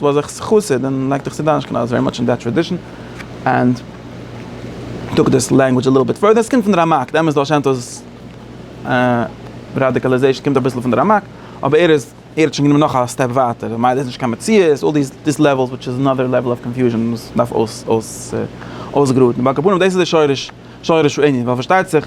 דו האסט זיך חסיד און לייג דיך צו דיין אשכנז ווערי מאטש אין דעט טראדישן ענד טאק דיס לענגווידש א ליטל ביט פורדער, ס'קומט פון די רמק, די אמת בעל שם טוב'ס ראדיקאלעזעישן קומט אביסל פון די רמק, אבער ער איז ער האט שוין גענומען נאך א סטעפ ווייטער, ממילא איז נישט קיין מציאות, אלל דיס דיס לעוועלס וויטש איז אנאדער לעוועל אוו קאנפיוזשן וואס דארף אויס אויס אויסגראדן, אבער על כל פנים דאס איז די שורש שורש הענין, ווייל פארשטייט זיך.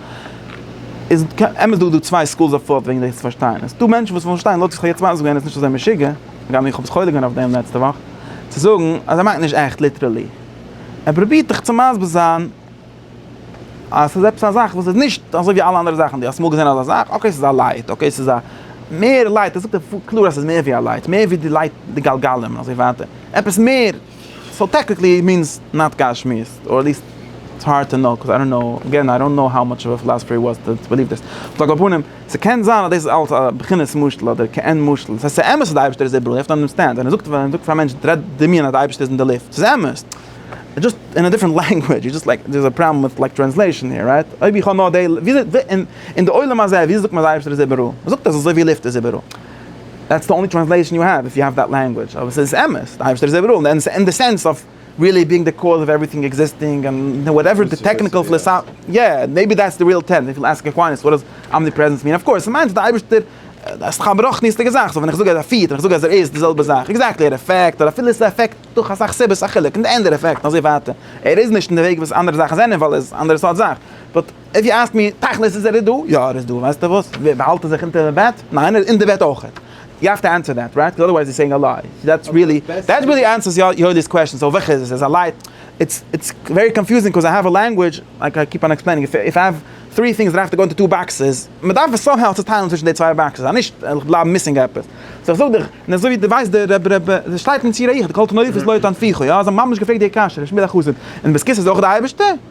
איז אמת דא דא צוויי סקולס אוו פאוט וועגן דאס צו פארשטיין. עס איז דא מענטשן וואס ווילן נישט פארשטיין, לויט ווי איך האב יעצט מסביר געווען איז עס נישט אזוי משוגע, הגם איך האב עס חולק געווען אויף דעם לעצטע וואך, צו זאגן אז ער מיינט נישט עכט ליטערלי. ער פרובירט דיך צו מסביר זיין אז עס איז עפעס א זאך וואס איז נישט אזוי ווי אלע אנדערע זאכן. דו האסט אמאל געזען אזא זאך? אקעי עס איז א לייט, אקעי עס איז א מער לייט, ער זאגט קלאר אז עס איז מער ווי א לייט, מער ווי די לייט די גלגלים און אזוי ווייטער, עפעס מער. סאו טעקניקלי איט מינס נאט גשמיות, אר עטליסט איטס הארד טו נאו, קאוז איי דאנט נאו, אגעין איי דאנט נאו האו מאטש אוו א פילאזעפער הי וואס דאס ביליוו דעס, אבער על כל פנים, ס'קען זיין אז דאס איז אלס א בחינת משל אדער כעין משל, ס'הייסט ס'איז אמת אז די אייבישטער איז איבעראל, יו האוו טו אנדערסטענד, ווען ער זאגט ווען ער זאגט פאר א מענטש טרעט דמיון אז די אייבישטער איז אין די לופט, ס'איז אמת, דזשאסט אין א דיפרענט לענגווידזש, איז דזשאסט לייק דער איז א פראבלעם וויט לייק טרענסלעישאן העיר, רייט? אויב איך האב נאר דעי, וויאזוי, אין די עולם הזה וויאזוי זאגט מען אז די אייבישטער איז איבעראל? מ'זאגט אז אזוי ווי לופט איז איבעראל. דעטס די אנלי טרענסלעישאן יו העוו איף יו העוו דעט לענגווידזש, אבער ס'איז אמת, די אייבערשטער איז איבעראל, אין די סענס אוו ריעלי בינג די קאוז אוו עוועריטינג עקזיסטינג און וואטעווער די טעקניקעל פילאסאפיע, יא, מעיבי דעטס די ריעל טעם, איף יו עסק אקוויניס וואט דאס אמניפרעזענס מין, אוו קאורס ס'מיינט די אייבערשטער איז סך הכל א רוחניות'דיגע זאך, סאו ווען איך זאג אז ער פירט און איך זאג אז ער איז די זעלבע זאך, עקזעקטלי ער עפעקט אדער אפילו עס עפעקט דורך אסאך סיבות א חילוק אין די ענד ער עפעקט און אזוי ווייטער, ער איז נישט אין די וועג וואס אנדערע זאכן זענען ווייל ער איז אנדערע סארט זאך, איף יו אסק מי, תכלית איז ער איז דא? יא ער איז דא, ווייסטע וואס? באהאלט ער זיך אונטער די בעט? ניין ער איז אין די בעט אויכעט, יו האוו טו ענסער דעט רייט, אדערווייז יו סעינג א ליי, דעט ריעלי דעט ריעלי ענסערס יואלי'ס קוועסטשען, סאו וועלכע איז עס? איז א ליי? איטס איטס ווערי קאנפיוזינג קאוז איי האוו א לענגווידזש לייק איי קיפ אן עקספלעינינג איף איף איי האוו טרי טינגס דארף עס גאו אינטו טו באקסעס, מ'דארף עס סאמהאו צוטיילן צווישן די צוויי באקסעס אז נישט וועל איך בלייבן מיסינג עפעס, סאו איך זאג דיך, און אזוי ווי דו ווייסט די רב רב רב שטייט אין ציר א איך, די כל תנאיך איז לא יתן פיך, יא? זיי האבן ממש געפרעגט די קשיא, ר' שמואל החסיד, און די סקיס איז אויך די אייבערשטער?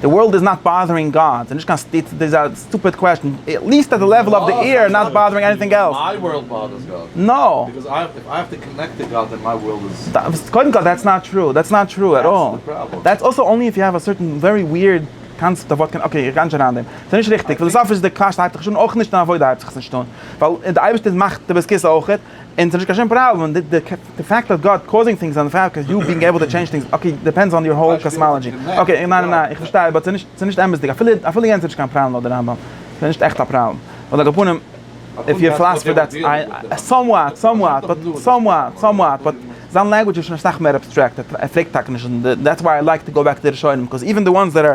די ווארלד איז נאט באדערינג גאד, ס'איז נישט קיין סתירה, דאס איז א סטופיד קוועשן, עט ליעסט אט די לעוול אוו די עיר נאט באדערינג עניטינג עלס. מיי ווארלד באדערס גאד. נאו. ביקאוז איי האב איי האב טו קאנעקט טו גאד דען מיי ווארלד איז. קודם כל דעטס נאט טרו, דעטס נאט טרו עט אלל. דעטס די פראבלעם. דעטס אלסא אנלי איף יו העוו א סערטען ווערי וויערד קאנסעפט אויף וואט קען, אקעי איך גיי נישט אריין דעם, ס'איז נישט ריכטיג, פיליסאפיש די קוועשן הייבט זיך נישט אן אויך נישט און עבודה הייבט זיך עס נישט אן, ווייל די אייבערשטער מאכט די בס כ אויכעט. און ס'נישט קיין שום פראבלעם, די פעקט אוו גאד קאוזינג טינגס און די פעקט אוו יו בינג עיבל טו טשעינדזש טינגס, אקעי, דיפענדס אן יור האול קאסמאלאדזשי, אקעי, ניין ניין ניין, איך פארשטיי, באט ס'נישט אמת'דיג, אפילו אפילו יענץ איז נישט קיין פראבלעם לויט די רמב ם, ס'איז נישט עכט א פראבלעם, און על כל פנים, איף יור פילאסעפי דעטס איי, סאמוואט, סאמוואט, באט סאמוואט, סאמוואט, באט זיין לענגווידזש איז שוין אסאך מער אבסטרעקט, ער פרעגט טאקע נישט, דעטס וויי איי לייקט טו גאו בעק טו די ראשונים, קאז איווען די וואנס דעט אר.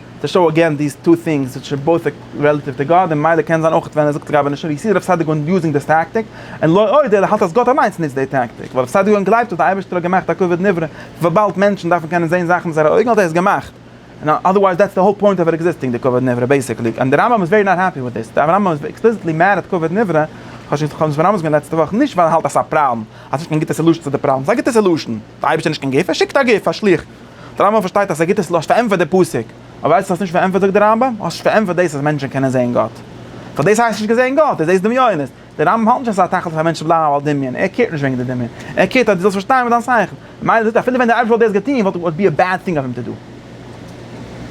טו שאו אגעין דיס טו טינגס וויטש אר בויט רעלעטיוו טו גאד, און מילא קען זיין אויך ווען ער זאגט רבני שום ווי סי רב סעדיגון יוזינג דיס טעקטיק, און לא עוד ער האלט אז גאט אליינס נוצט די טעקטיק ווייל רב סעדיגון גלייבט אז די אייבערשטער האט געמאכט א כבוד נברא וויבאלד מענטשן דארפן קענען זעהן זאכן מיט זייערע אויגן האט ער עס געמאכט און אדערווייז דעטס די האול פוינט אוו עקזיסטינג די כבוד נברא בעיסיקלי און די רמב ם איז ווערי נאט העפי וויט דיס די רמב ם איז עקספליסיטלי מעד אויף כבוד נברא כ'האב שוין געזאגט פאר רמב ם לעצטע וואך נישט ווייל ער האלט אז ס'איז א פראבלעם אז ס'נישט קיין גוטע סעלושן צו די פראבלעם ס'איז א גוטע סעלושן. די אייבערשטער נישט קיין גוף, ער שיקט א גוף, א שליח. דער רמב ם פארשטייט אז ער גיט עס ל ע, האסט פארענטפערט די פסוק, אבער ווייל עס האסט נישט פארענטפערט זאגט דער רמב ם, האסט נישט פארענטפערט דאס אז מענטשן קענען זעהן גאט. ווייל דאס הייסט נישט געזעהן גאט, דו זעהסט דמיונות. דער רמב ם האלט נישט אז עס איז א תכלית פאר מענטשן צו בלייבן ווייל דמיון, ער קעירט נישט וועגן די דמיון, ער קעירט אז דו זאלסט פארשטיין מיט דיין שכל. ממילא זאגט ער אפילו ווען דער אייבערשטער וואלט דאס געטון וואלט וואלט בי א בעד טינג אויף אים טו דו,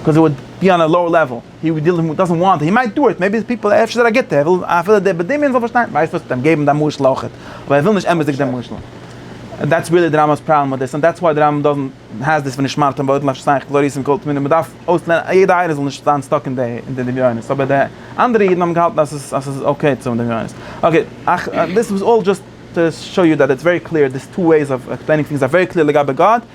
קאוז ער וואלט בי אן א לאוער לעוועל. הי ו די דאזענט וואנט הי מייט דו איט, מעיבי די פיפל אפשר איז ער א גוטע, ער וויל אפילו דער בדמיון זאל פארשטיין, ווייסט וואס ס'טוט אים געבן די משל אויכעט, אבער ער וויל נישט אמתדיג דעם משל, און דעטס ריעלי די רמבם'ס פראבלעם מיט דאס, און דעטס וואי די רמב ם דאזענט העז דיס ונשמרתם ועוד לנפשותיכם כי לא ראיתם כל תמונה, מ'דארף אויסלערנען אז יעדע עין זאל נישט זיין סטאק אין די דמיונות, אבער די אנדערע אידן האבן געהאלטן אז ס'איז אקעי צו האבן דמיונות. אקעי, דיס וואס אלל דזשאסט טו שאו יו דעט איטס ווערי קליר, דיס טו וועיס אוו עקספלעינינג טינגס אר ווערי קליר לגבי גאד.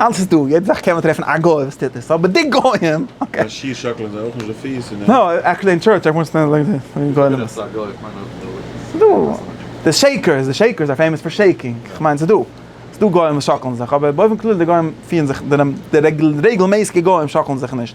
אלס איז דא, יעדע זאך קען מען טרעפן א גוי וואס טוט עס, אבער די גוים, אקעי. די שיך שאקלען זיי אויך נישט די פיס און. נא, עקטשעלי אין טשורטש עווען סטענד לייק דעט, אין גוים. איך זאג א גוי, איך מיין אויך די לויערס. דא, די שעיקערס, די שעיקערס אר פעימאס פאר שעיקינג, איך מיין ס'דא, ס'דא גוים וואס שאקלן זיך, אבער באופן כללי די גוים פירן זיך, די רעגלמעסיגע גוים שאקלן זיך נישט.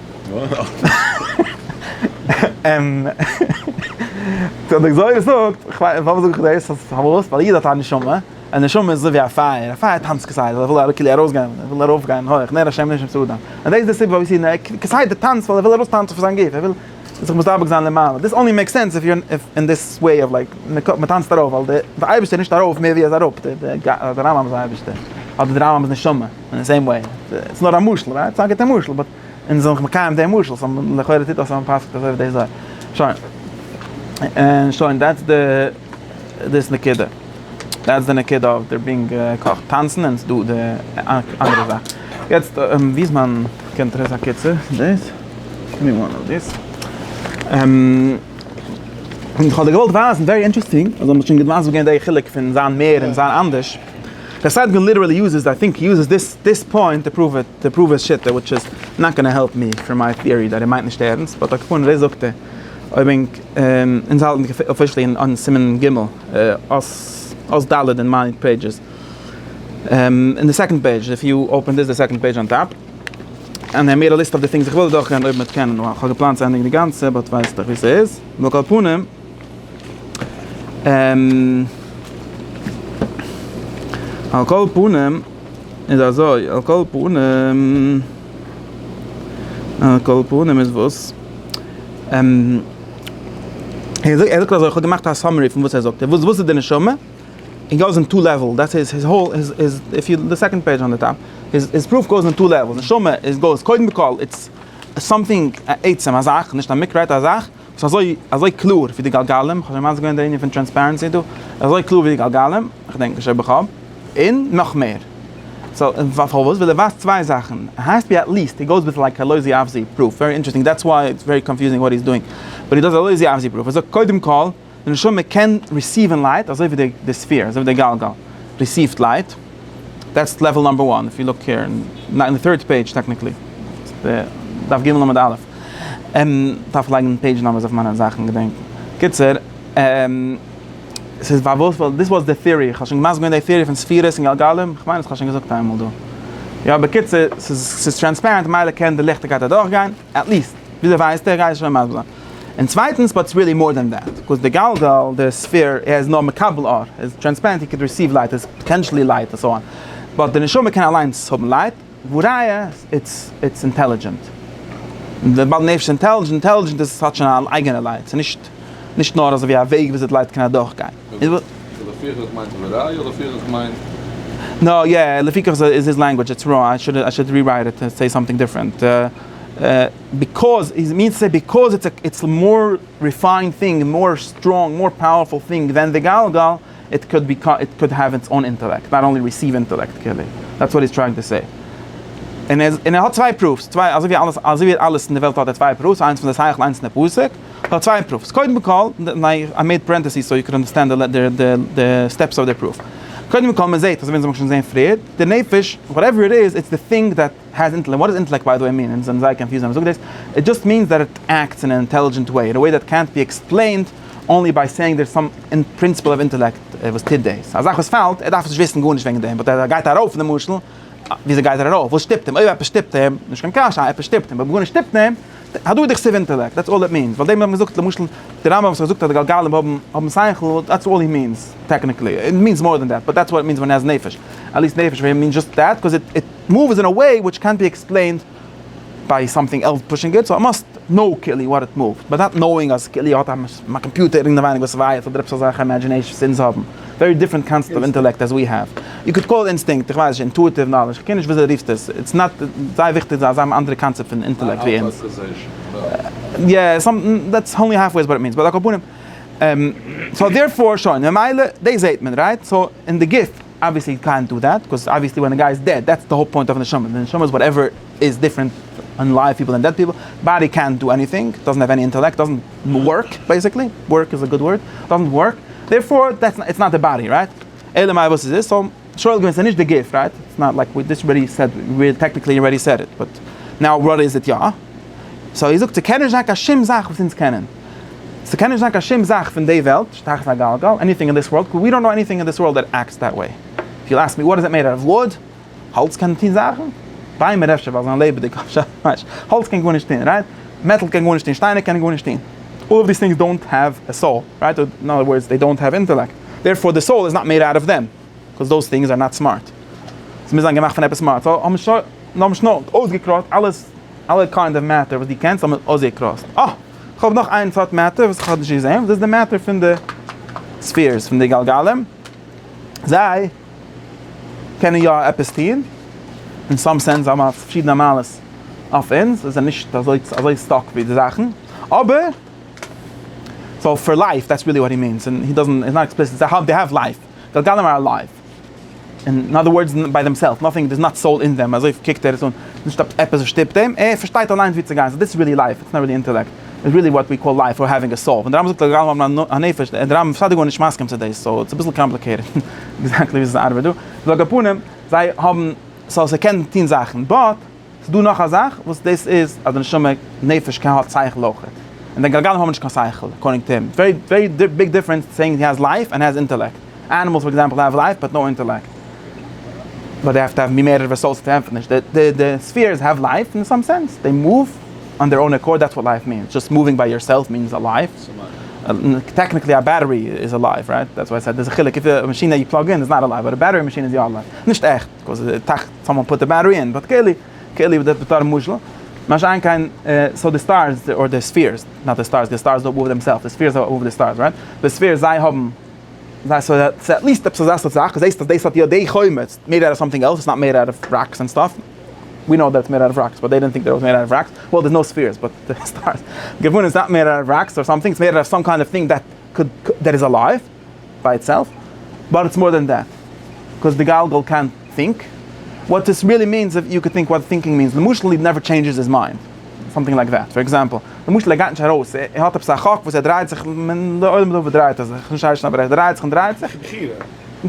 די גזירה זאגט, פארוואס זאג איך דאס, פארוואס? ווייל א איד האט א נשמה, א נשמה איז אזויווי א פייער, א פייער טאנצט כסדר, ער וויל כאילו ארויסגיין, ער וויל ארויפגיין הויך, נר השם נשמת האדם, און דאס איז די סיבה פארוואס יעדן איד כסדר טאנצט, ווייל ער וויל ארויסטאנצן פון זיין גוף, ער וויל זיך מדבק זיין למעלה, דיס אנלי מעיקס סענס איף יו אר אין דיס וועי אוו לייק, מען טאנצט ארויף, ווייל די אייבערשטער איז נישט ארויף מער ווי ער איז אראפ, די די רמב ם איז אייבערשטער, אדער די רמב ם איז נשמה. אין די סעים וועי, ס'איז נאר א משל, רייט? ס'איז א גוטע משל, באט אונז זענען דאך מקיים די משל, סא לכאורה טוט דאס אז מ'פסק'ט אזוי אויף די זויל. שוין. און שוין, דעטס די דאס נקודה. דעטס די נקודה אויף דער בינגא קאך טאנצן, און ס'דא די אנדערע זאך. יעצט, ווי איז מיין קונטרס? א קיצור, דאס. גימי וואן אוו דיס. כ'האב דיר געוואלט ווייזן, ווערי אינטערעסטינג, אז מ'האט שוין געוואוסט וואס געווען די חילוק פון זיין מער און זיין אנדערש. ר' סיידגון ליטערעלי יוזעס, איי טינק יוזעס דיס דיס פוינט טו פרואוו איט, טו פרואוו היז שיטה, וויטש איז נאט גאנא העלפ מי פראם מיי טעארי דעט ער מיינט נישט ערענסט, באט אקעי פארנט דאס זאגט ער, אויב ענק אונז האלטן דיך אפישעלי אין אן סימן ג' אות ד' אין מיין פעידזשעס אין די סעקאנד פעידזש איף יו אפען דיס די סעקאנד פעידזש אן טאפ און ער מער א ליסט אויף די טינגס איך וויל אדורך גיין אויב מען קען נאר כהאב געפלאנט צו ענדיגן די גאנצע באט ווייסטעך ווי סאיז ועל כל פנים. על כל פנים איז אזוי, על כל פנים, על כל פנים איז וואס? ער זאגט אזוי, כ'האב געמאכט א סאמערי פון וואס ער זאגט, וואס איז די נשמה? איט גאוס אין טו לעוועל, דעטס איז היז האול, איף יו, די סעקאנד פעידזש אן די טאפ, היז פרוף גאוס אין טו לעוועלס, נשמה איז גאוס, קודם כל איטס סאמטינג, א עצם, א זאך, נישט א מקרה, א זאך, ס'איז אזוי אזוי קלאר ווי די גלגלים, כ'האב שוין מסביר געווען די ענין פון טרענספערענסי דא, ס'איז אזוי קלאר ווי די גלגלים, כ'דענק נישט אויב כ'האב, און נאך מער. סאו און פארוואס? וויל ער ווייזט צוויי זאכן, ער הייסט ווי עט ליעסט, הי גאוס וויט לייק א לוזי אוו זי פרוף, ווערי אינטערעסטינג, דעטס וואי איטס ווערי קאנפיוזינג וואט הי'ס דואינג, באט הי דאז א לוזי אוו זי פרוף, ער זאגט קודם כל, די נשמה קען ריסיווען לייט אזוי ווי די ספעיר, אזוי ווי די גלגל ריסיווט לייט, דעטס לעוועל נאמבער וואן, איף יו לוק העיר, אין די טירט פעידזש טעקניקלי, דף ג עמוד א', כ'דארף לייגן פעידזש נאמבערס אויף מיינע זאכן געדענקן, קיצור, ס'איז פארוואס, ווייל דיס וואס די טיארי, כ'האב שוין מסביר געווען די טיארי פון ספירות און גלגלים, כ'מיין אז כ'האב שוין געזאגט איינמאל דא, יא בקיצור, ס'איז טרענספערענט ממילא קען די ליכטיגקייט אדורכגיין. עט ליסט, וויאזוי ווייסט ער? רייסט שוין מזל. און צווייטנס, באט איטס ריעלי מאר דען דעט, בקאוז די גלגל, די ספעיר, ער איז נאר מקבל אור, ער איז טרענספערענט, ער קען ריסיוו לייט, ער איז פאטענשעלי לייט און סאו אן, באט די נשמה קען אליינס האבן לייט, והא ראיה, איטס אינטעלידזשענט. און וויבאלד נפש איז אינטעלידזשענט, עס האט שוין אן אייגענע לייט, ס'איז נישט נאר אזויווי א וועג וויאזוי די לייט קען אדורכגיין. לפי איך עס מיינט וראי' אדער לפי איך עס מיינט. נא יא, לפי איך איז היז לענגווידזש איטס ראנג, איי שוד איי שוד רירייט איט און סעי סאמטינג דיפרענט. ביקאוז איז מינס סעי ביקאוז איטס איטס מאר ריפיינד טינג, מאר סטראנג, מאר פאוערפול טינג דען די גלגל, איט קאוד בי איט קאוד העוו איטס אן אינטעלעקט, נאט אנלי ריסיוו אינטעלעקט כאילו. דעטס וואט היז טרייאינג טו סעי. און ער האט צוויי פראף'ס, צוויי אזוי ווי אלעס, אזוי ווי אלעס אין די וועלט האט ער צוויי פראף'ס, איינס פון די שכל, איינס פון די פסק. כ'האב צוויי אימפראווס. קודם כל, איי מעיד פרענטעסיס סאו יו קען אנדערסטענד די סטעפס אוו די פרוף. קודם כל, מען זעהט, אזוי ווי אונז האבן שוין געזעהן פריער, די נפש, וואטעווער איט איז, איטס די thing דעט העז אינטעלעקט. וואט דאס אינטעלעקט ביי די וועי מין? אונז זענען זייער קאנפיוזד ווען מען זאגט דאס. איט דזשאסט מינס דעט איט עקטס אין ען אינטעלידזשענט וועי, אין א וועי דעט קענט בי עקספלעינד אנלי ביי סעיאינג דערס סאם פרינסיפעל אוו אינטעלעקט וואס טוט דאס. א זאך וואס פאלט, ער דארף נישט וויסן גארנישט וועגן דעם, באט ער גייט ארויף למשל, וויאזוי גייט ער ארויף? וואס שטופט אים? אויב עפעס שטופט אים, נישט קיין קשיא, עפעס שטופט אים, אויב גארנישט שטופט אים, הדור דכתיב אינטעלעקט, דעטס אלל איט מינס, ווייל דעם האט מען געזאגט למשל די רמב ם וואס האט געזאגט אז די גלגלים האבן האבן שכל, דעטס אלל הי מינס, טעקניקלי, הי מינס מאר דען דעט, באט דעטס וואט איט מינס ווען הי העז נפש, עטליסט נפש פאר הים מינס דזשאסט דעט, קאז איט איט מאווס אין א וועי וויטש קענט בי עקספלעינד ביי סאמטינג עלס פושינג איט, סאו איי מאסט קנאו כאילו וואט איט מאווט, באט נאט קנאוינג אז כאילו האט א קאמפיוטער אינעווייניג וואס ווייערט אדער עפעס אזעלכע אימעדזשינעישאנס אונז האבן. ווערי דיפרענט קאנסעפט אוו אינטעלעקט עז ווי האוו יו קען קאל איט אינסטינקט, איך ווייס נישט, אינטואיטיוו נאלעדזש, כ'קען נישט וויאזוי רופסט עס, איטס נאט זייער וויכטיג זיי האבן אנדערע קאנצעפט פון אינטעלעקט ווי אונז. יא, סאם דעטס אנלי האלף וועי איז וואט איט מינס, באט על כל פנים, סאו דערפאר שוין, ממילא דאס זעהט מען רייט, סאו אין די גוף אבוויעסלי יו קענט דו דעט, קאוז אבוויעסלי ווען א גיי איז דעד דעטס די האול פוינט אוו נשמה, די נשמה איז וואטעווער איז דיפרענט פון לייוו פיפל און דעד פיפל, באדי קענט דא עניטינג, דאזענט העוו עני אינטעלעקט, דאזענט ווארק בעסיקלי, ווארק איז א גוד ווארד, דאזענט ווארק, דערפאר איטס נאט די באדי רייט? אלא מאי וואס איז עס? סאו שואל געווען ס'איז נישט די גוף רייט? איטס נאט לייק ווי דיס רעדי סעד ווי טעקניקלי רעדי סעד איט באט נאו וואט איז איט יא? סאו איר זאגט ס'קען נישט זיין קיין שום זאך וואס אונז קענען? ס'קען נישט זיין קיין שום זאך פון די וועלט, שטח א גלגל, עניטינג אין דיס ווארלד, קאו ווי דאנט נאו עניטינג אין דיס ווארלד דעט עקטס דעט וועי, איף יו עסק מי וואט איז איט מעיד אוט אוו וואד? האלץ קען טון זאכן? ביימער אפשר ווייל זיי זענען לעבעדיג אבער שאף ניישט. האלץ קען גארנישט טון רייט? מעטאל קען גארנישט טון, שטיינער קענען גארנישט טון. אלל אוו דיס טינגס דאונט העוו א סאול רייט? אדער אין אנדער ווארדס זיי דאונט העוו אינטעלעקט דערפאר די סאול איז נאט מעיד אוט אוו דעם קאז דאוז טינגס אר נאט סמארט. זיי מוזן זיין געמאכט פון עפעס סמארט סאו האבן שוין האבן שנעל אויסגעקראסט אלעס אלע קיינד אוו מעטער וואס דו קענסט האבן מיר אויסגעקראסט. אה! כ'האב נאך איין סארט מעטער וואס כ'האב נישט געזען דאס איז די מעטער פון די ספעירס פון די גלגלים זיי. קענען יא עפעס טוהן, אין סאם סענס זיי האבן א פארשידענע מעלות אויף אונז, זיי זענען נישט אזוי אזוי סטאק ווי די זאכן, אבער סאו פאר לייף דעטס ריעלי וואט הי מינס, און הי דאזענט איז נאט עקספליסיט, זיי האבן דעי האוו לייף, די גולם אר אלייוו, און אין אדער ווארדס ביי דעם סעלף, נאטינג דאס נאט סאול אין דעם, אזוי קוקט ער עס אן, נישט עפעס וואס שטופט אים, ער פארשטייט אליינס ווי צו גיין, סאו דעטס ריעלי לייף, איטס נאט ריעלי אינטעלעקט. איז ריעלי וואט ווי קאל לייף אור העווינג א סאול, ווען די רמב ם זאגט לגבי עולם הנפש, איז די רמב ם כסדר גארנישט מסכים צו דאס, סאו ס'איז אביסל קאמפליקעיטעד עקזעקטלי וויאזוי ס'ארבעט דא, סאו על כל פנים, זיי האבן, סאו ס'קען טון זאכן, באט ס'איז דא נאך א זאך וואס דאס איז אז די נשמה, נפש, קען האט שכל אויך, און די גלגלים האבן נישט קיין שכל, אקארדינג טו הים, איטס ווערי ווערי ביג דיפרענס סעינג הי העז לייף ענד הי העז אינטעלעקט. אנימעלס פאר עקזעמפל האוו לייף באט נאו אינטעלעקט. באט זיי האוו טו האוו מי מערערע וועסעלס צו ענטפערן נישט. די ספעירס האוו לייף אין סאם סענס. זיי מאוו אן דעיר אוין עקארד דעטס וואט לייף מיענס. דזשאסט מאווינג ביי יורסעלף מיענס א לייף. טעקניקלי א בעטערי איז א לייף רייט. דעטס וואי איי סעד דער'ס א חילוק. איף א מאשין דעט יו פלאג אין איז נאט א לייף באט א בעטערי מאשין איז יא א לייף. נישט עכט קאוז טאכט סאמאן פוט א בעטערי אין באט קעלי קעלי דעט בתור משל. מה שאין כן סאו די סטארס אר די ספעירס נאט די סטארס די סטארס דאנט מאוו דעמסעלפס די ספעירס מאוו די סטארס רייט. די ספעירס זיי האבן זיי סאו ס'איז עטליסט עפעס אזא סארט זאך, זעהסט אז דאס האט יא די חומץ, מעיד אוט אוו סאמטינג עלס, איטס נאט מעיד אוט אוו ראקס ענד סטאף, ווי נאו דעט איטס מעיד אוט אוו ראקס באט דעי דינט טינק דעט איט וואס מעיד אוט אוו ראקס, וועל דערס נאו ספעירס באט די סטארס געוואונען איטס נאט מעיד אוט אוו ראקס אר סאמטינג, איטס מעיד אוט אוו סאם קיינד אוו טינג דעט קוד דעט איז אלייוו ביי איטסעלף, באט איטס מאר דען דעט, קאוז די גלגל קען טינק, וואט דעס ריעלי מינס איז יו קען טינק וואט טינקינג מינס, למשל איט נעווער טשעינדזשעס איטס מיינד. סאמטינג לייק דעט, פאר עקזעמפל, למשל ער גייט נישט ארויס, ער האט עפעס א חק וואס ער דרייט זיך, די עולם דא וואס דרייט ער זיך, נישט איישן אבער ער דרייט זיך און דרייט זיך,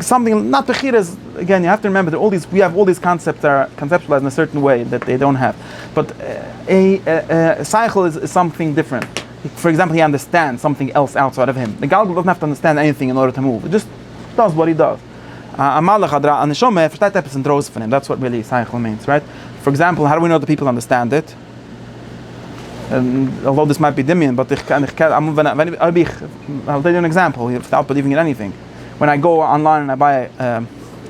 סאמטינג, נאט בחירה איז, אגעין יו העוו טו רימעמבער אלל דיס, ווי אלל דיס קאנצעפטס אר קאנצעפטשולייזד אין א סערטען וועי דעט זיי דאנט העוו, באט א שכל איז סאמטינג דיפרענט, פאר עקזעמפל הי אנדערסטענדס סאמטינג עלס אוטסייד אוו הים, די גלגל דאזנט העוו טו אנדערסטענד עניטינג אין ארדער טו מאוו, איט דזשאסט דאז וואט איט דאז. א מלאך אדער א נשמה ער פארשטייט עפעס אינדרויסן פון אים דעטס וואט רעלי שכל מיענס רייט? פאר עקזעמפל האו דא ווי נאו די פיפל אנדערסטענד איט אלזאו דיס מייט בי דמיון באט איך קען איך אויב איך איי גיוו אן עקזעמפל וויטאוט בעליווינג אין עניטינג ווען איי גאו אנליין און איי ביי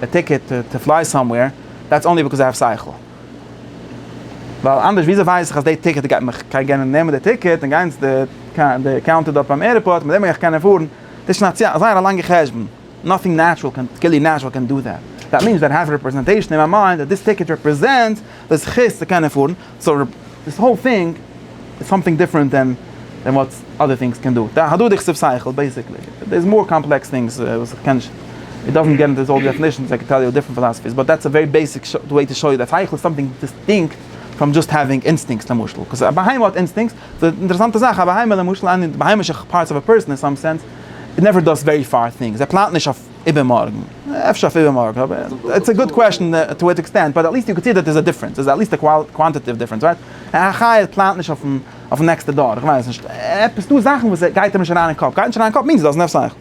א טיקעט טו פליי סאמווער דעטס אנלי ביקאוז איי האוו שכל ווייל אנדערש וויאזוי ווייס איך אז די טיקעט גייט מיך גיי גענען נעמען די טיקעט און גיין צו די קאונטער דארט ביים עירפארט מיט דעם וועל איך קענען פארן דאס איז שוין א זייער א לאנגע חשבון. נאטינג נעטשרעל קען טקעלי נעטשרעל קען דא דעט, דעט מינס דעט העז רעפרעזענטעישן אין מיי מיינד דעט דיס טיקעט רעפרעזענטס די זכות צו קענען פארן, סאו דיס האול טינג איז סאמטינג דיפרענט דען דען וואט אדער טינגס קען דא, די הדדי כסף שכל בעסיקלי דער איז מאר קאמפלעקס טינגס וואס איך קען נישט, איט דאזענט געט אינטו אלל די דעפענישענס איי קען טעל יו דיפרענט פילאסעפיס באט דעטס א ווערי בעיסיק וועי טו שאו יו דעט שכל איז סאמטינג דיסטינקט פראם דזשאסט העווינג אינסטינקטס למשל, קאוז א בהמה האט אינסטינקטס די אינטערעסאנטע זאך, א בהמה למשל, עני בהמה'שע פארטס אוו א פערסאן אין סאם סענס, איט נעווער דאס ווערי פאר טינגס, ער פלאנט נישט אויף איבערמארגן, אפשר אויף איבערמארגן, אבער איטס א גוד קוועשאן טו וואט עקסטענט, באט עטליעסט יו קען סי דעט דער איז א דיפרענס, איז עטליעסט א קוואנטיטעטיוו דיפרענס, רייט? א חיה פלאנט נישט אויפן נעקסטע דור, איך ווייס נישט, עפעס דא זאכן וואס גייט אים נישט אריין אין קאפ, גייט נישט אריין אין קאפ מיענס איט דאזענט האוו סאו.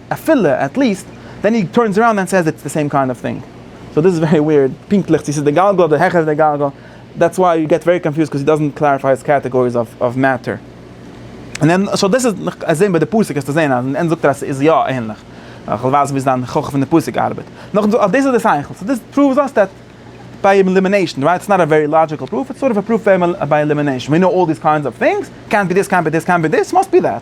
אפילו, עט ליעסט, ווען הי טורנס אראונד ענד סעיס איטס די סעים קיינד אוו טינג. סאו דיס איז ווערי וויערד, פונקטליך צו ס'איז די גלגל אדער העכער די גלגל, דעטס וויי יו געט ווערי קאנפיוזד קאוז הי דאזענט קלעריפיי היז קעטעגאריס אוו מעטער. סאו דאס איז נאך זעהן ביי די פסוק וועסטו זעהן אז אין ענד זאגט ער אז ס'איז יא ענליך. כ'וועל ווייזן ווי זיין הוכחה פון די פסוק ארבעט. נאכדעם זאגט ער אז דאס איז די שכל. סאו דיס פראווס אויס דעט ביי עלימינעישן, רייט? ס'איז נאט א ווערי לאדזשיקל פרוף, איטס סארט אוו א פרוף ביי עלימינעישן, ווי נאו אלל דיס קיינדס אוו טינגס, קענט בי דיס, קענט בי דיס, קענט בי דיס, מאסט בי דעט.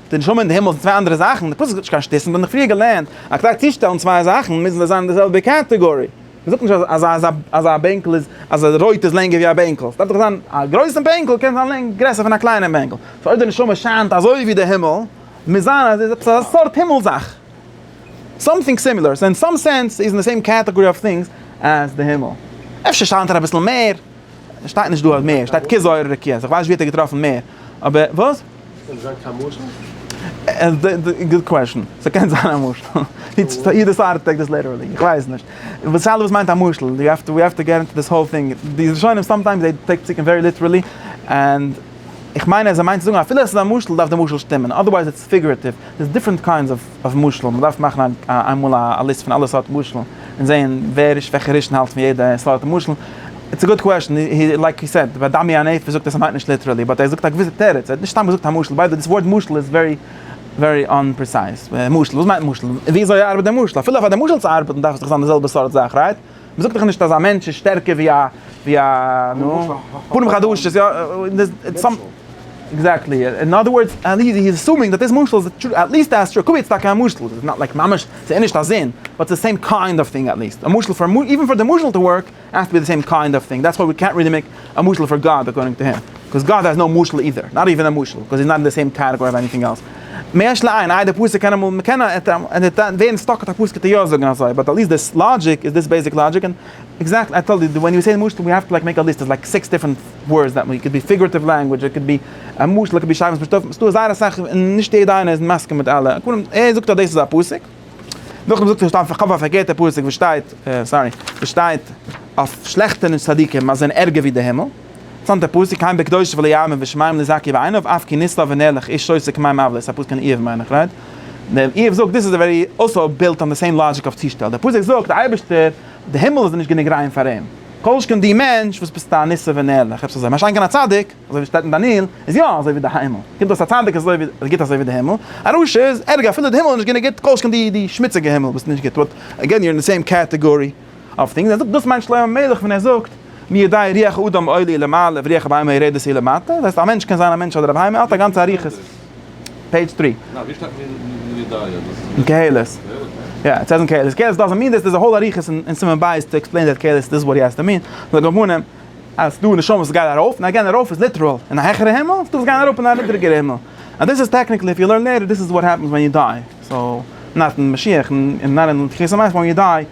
די נשמה און די הימל זענען צוויי אנדערע זאכן, די פסוק זאגט נישט קיין שטותים, מיר האבן דאך פריער געלערנט אז כדי צושטעלן צוויי זאכן מוזן זיי זיין אין די זעלבע קעטעגארי, מען זאגט נישט אז אז אז א בענקל איז אז א רויט איז לענגער ווי א בענקל, עס דארף דאך זיין א גרויסן בענקל קען זיין לענג גרעסער פון א קליינעם בענקל, סאו אויב די נשמה שיינט אזוי ווי די הימל מוז זיין אז איז עפעס א סארט הימל זאך, סאמטינג סימילער, סאו אין סאם סענס איז אין די סעים קעטעגארי אוו טינגס עז די הימל, אפשר שיינט ער אביסל מער, עס שטייט נישט דא אז מער, עס שטייט כ זויערע רקיעות, איך ווייס נישט ווי האט ער געטראפן מער, אבער וואס? קען זיין קיין משל? גוד קוועשן, ס'קען זיין א משל, איעדער סארט טעיק דאס ליטערלי, איך ווייס נישט, די שאלה וואס מיינט א משל, ווי האפט ווי האפט טו געט אינטו דיס האול טינג, די ראשונים סאמטיימס זיי טעיק פסוקים ווערי ליטערלי, און איך מיין אז ער מיינט צו זאגן אפילו עס איז א משל דארף די משל שטימען אדערווייז. פיגורעטיוו, ס'איז דיפרענט קיינדס אוו משלים, מ'דארף מאכן איינמאל א ליסט פון אלע סארט משלים, און זעהן ווער ריש וועלכע רישן האלט פון יעדע סארט משל, איטס א גוד קוועשן, לייק יו סעד, ביי דמי הנפש זאגט ער ס'מיינט נישט ליטערעלי, באט ער זאגט א געוויסע תירוץ, ער האט נישט סתם געזאגט א משל, ביי די וועי דאס ווארט משל איז ווערי ווערי אנפרעסייז, משל, וואס מיינט משל? וויאזוי ארבעט די משל? אפילו פאר די משל צו ארבעטן דארף עס דאך זיין די זעלבע סארט זאך, רייט? מען זאגט דאך נישט אז א מענטש איז שטערקער ווי א ווי א נו פנים חדשות יא סאם עקזעקטלי אין אדער ווארדס עלי איז עסומינג דאט דיס משל איז א טרו עטליעסט א עסטרא קוויטס טאקע א משל איז נאט לייק ממש ס'איז נישט א זון באט ס'איז סעים קיינד אוו טינג עטליעסט א משל פאר איווען פאר די משל טו ווארק עס האסט טו בי די סעים קיינד אוו טינג דעטס וויי ווי קענט ריעלי מעיק א משל פאר גאד אקארדינג טו הים קאוז גאד העז נאו משל אידער נאט איווען א משל קאוז איז נאט אין די סעים קעטעגארי אוו עניטינג עלס. מיש לעין, איי דער פסוק קען אמאל, מ'קען ווערן סטאק אויף א פסוק טו יא זאגן אזוי, באט עטליעסט דאס לאגיק איז דאס בעיסיק לאגיק, און עקזעקטלי איי טאלד יו, ווען יו סעי די משל ווי האוו טו לייק מעיק א ליסט איז לייק סיקס דיפרענט ווארדס דעט מין, קען בי פיגורטיוו לענגווידזש, קען בי א משל, קען בי שרייבן ס'דא זייער אסאך און נישט יעדע איינער איז מסכים מיט אלע, קודם ער זאגט אז דאס איז א פסוק, נאכדעם זאגט ער סתם כ'האף א פארקערטע פסוק וואס שטייט, סארי, וואס שטייט אויף שלעכטע צדיקים אז זיי זענען ערגער ווי די הימל. צאנז דער פסוק היים בקדושה ולא יאמין ושמים לזכי בעיניו אף כי נסתר ונר לך איש סוי סק מים אבלות א פסוק אין איוב מיין איך רייט? דער איוב זאגט דיס איז ווערי אלסא בילט אן די סעים לאגיק אויף צושטעל דער פסוק זאגט די אייבערשטער די הימל איז נישט גענוג ריין פאר אים כל שכן די מענטש וואס ביסט א נסתר ונר לך עפעס אזוי משא כ א צדיק אזוי ווי שטייט אין דניאל איז יא אזוי ווי די הימל קומט אויס א צדיק איז אזוי ווי גוט אזוי ווי די הימל א רשע איז ערגער אפילו די הימל איז נישט גענוג גוט כל שכן די די שמוציגע הימל וואס איז נישט גוט באט אגעין יו אר אין די סעים קעטעגארי. אויף דינגס, ער זאגט דאס מיינט שלמה המלך ווען ער זאגט מי ידעי ריח האדם עולה למעלה וריח הבהמה יורדת אי למטה, דאס הייסט א מענטש קען זיין א מענטש אדער א בהמה, ער האט א גאנצע אריכות. פעידזש טרי. נא, ווי שטייט מי מי ידעי אז דאס איז אין קהלת. קהלת ניין? יא, איט סעיז אין קהלת. קהלת דאזענט מין דיס, דער'ז א האול אריכות אין סימן ב' טו עקספלעין דעט קהלת דיס איז וואט הי האזט אין מין, און די גמונים אז ס'דא נשמות וואס גייען ארויף, ניין גיין ארויף איז ליטעראל אין א העכערע הימל, ס'דא וואס גייען אראפ אין א נידריגערע הימל, און דאס איז טעקניקלי איף יו לערן לעיטער דיס איז וואט העפענס ווען יו דיי, סאו נאט אין משיח, און נאט אין תחיית המתים ווען יו דיי.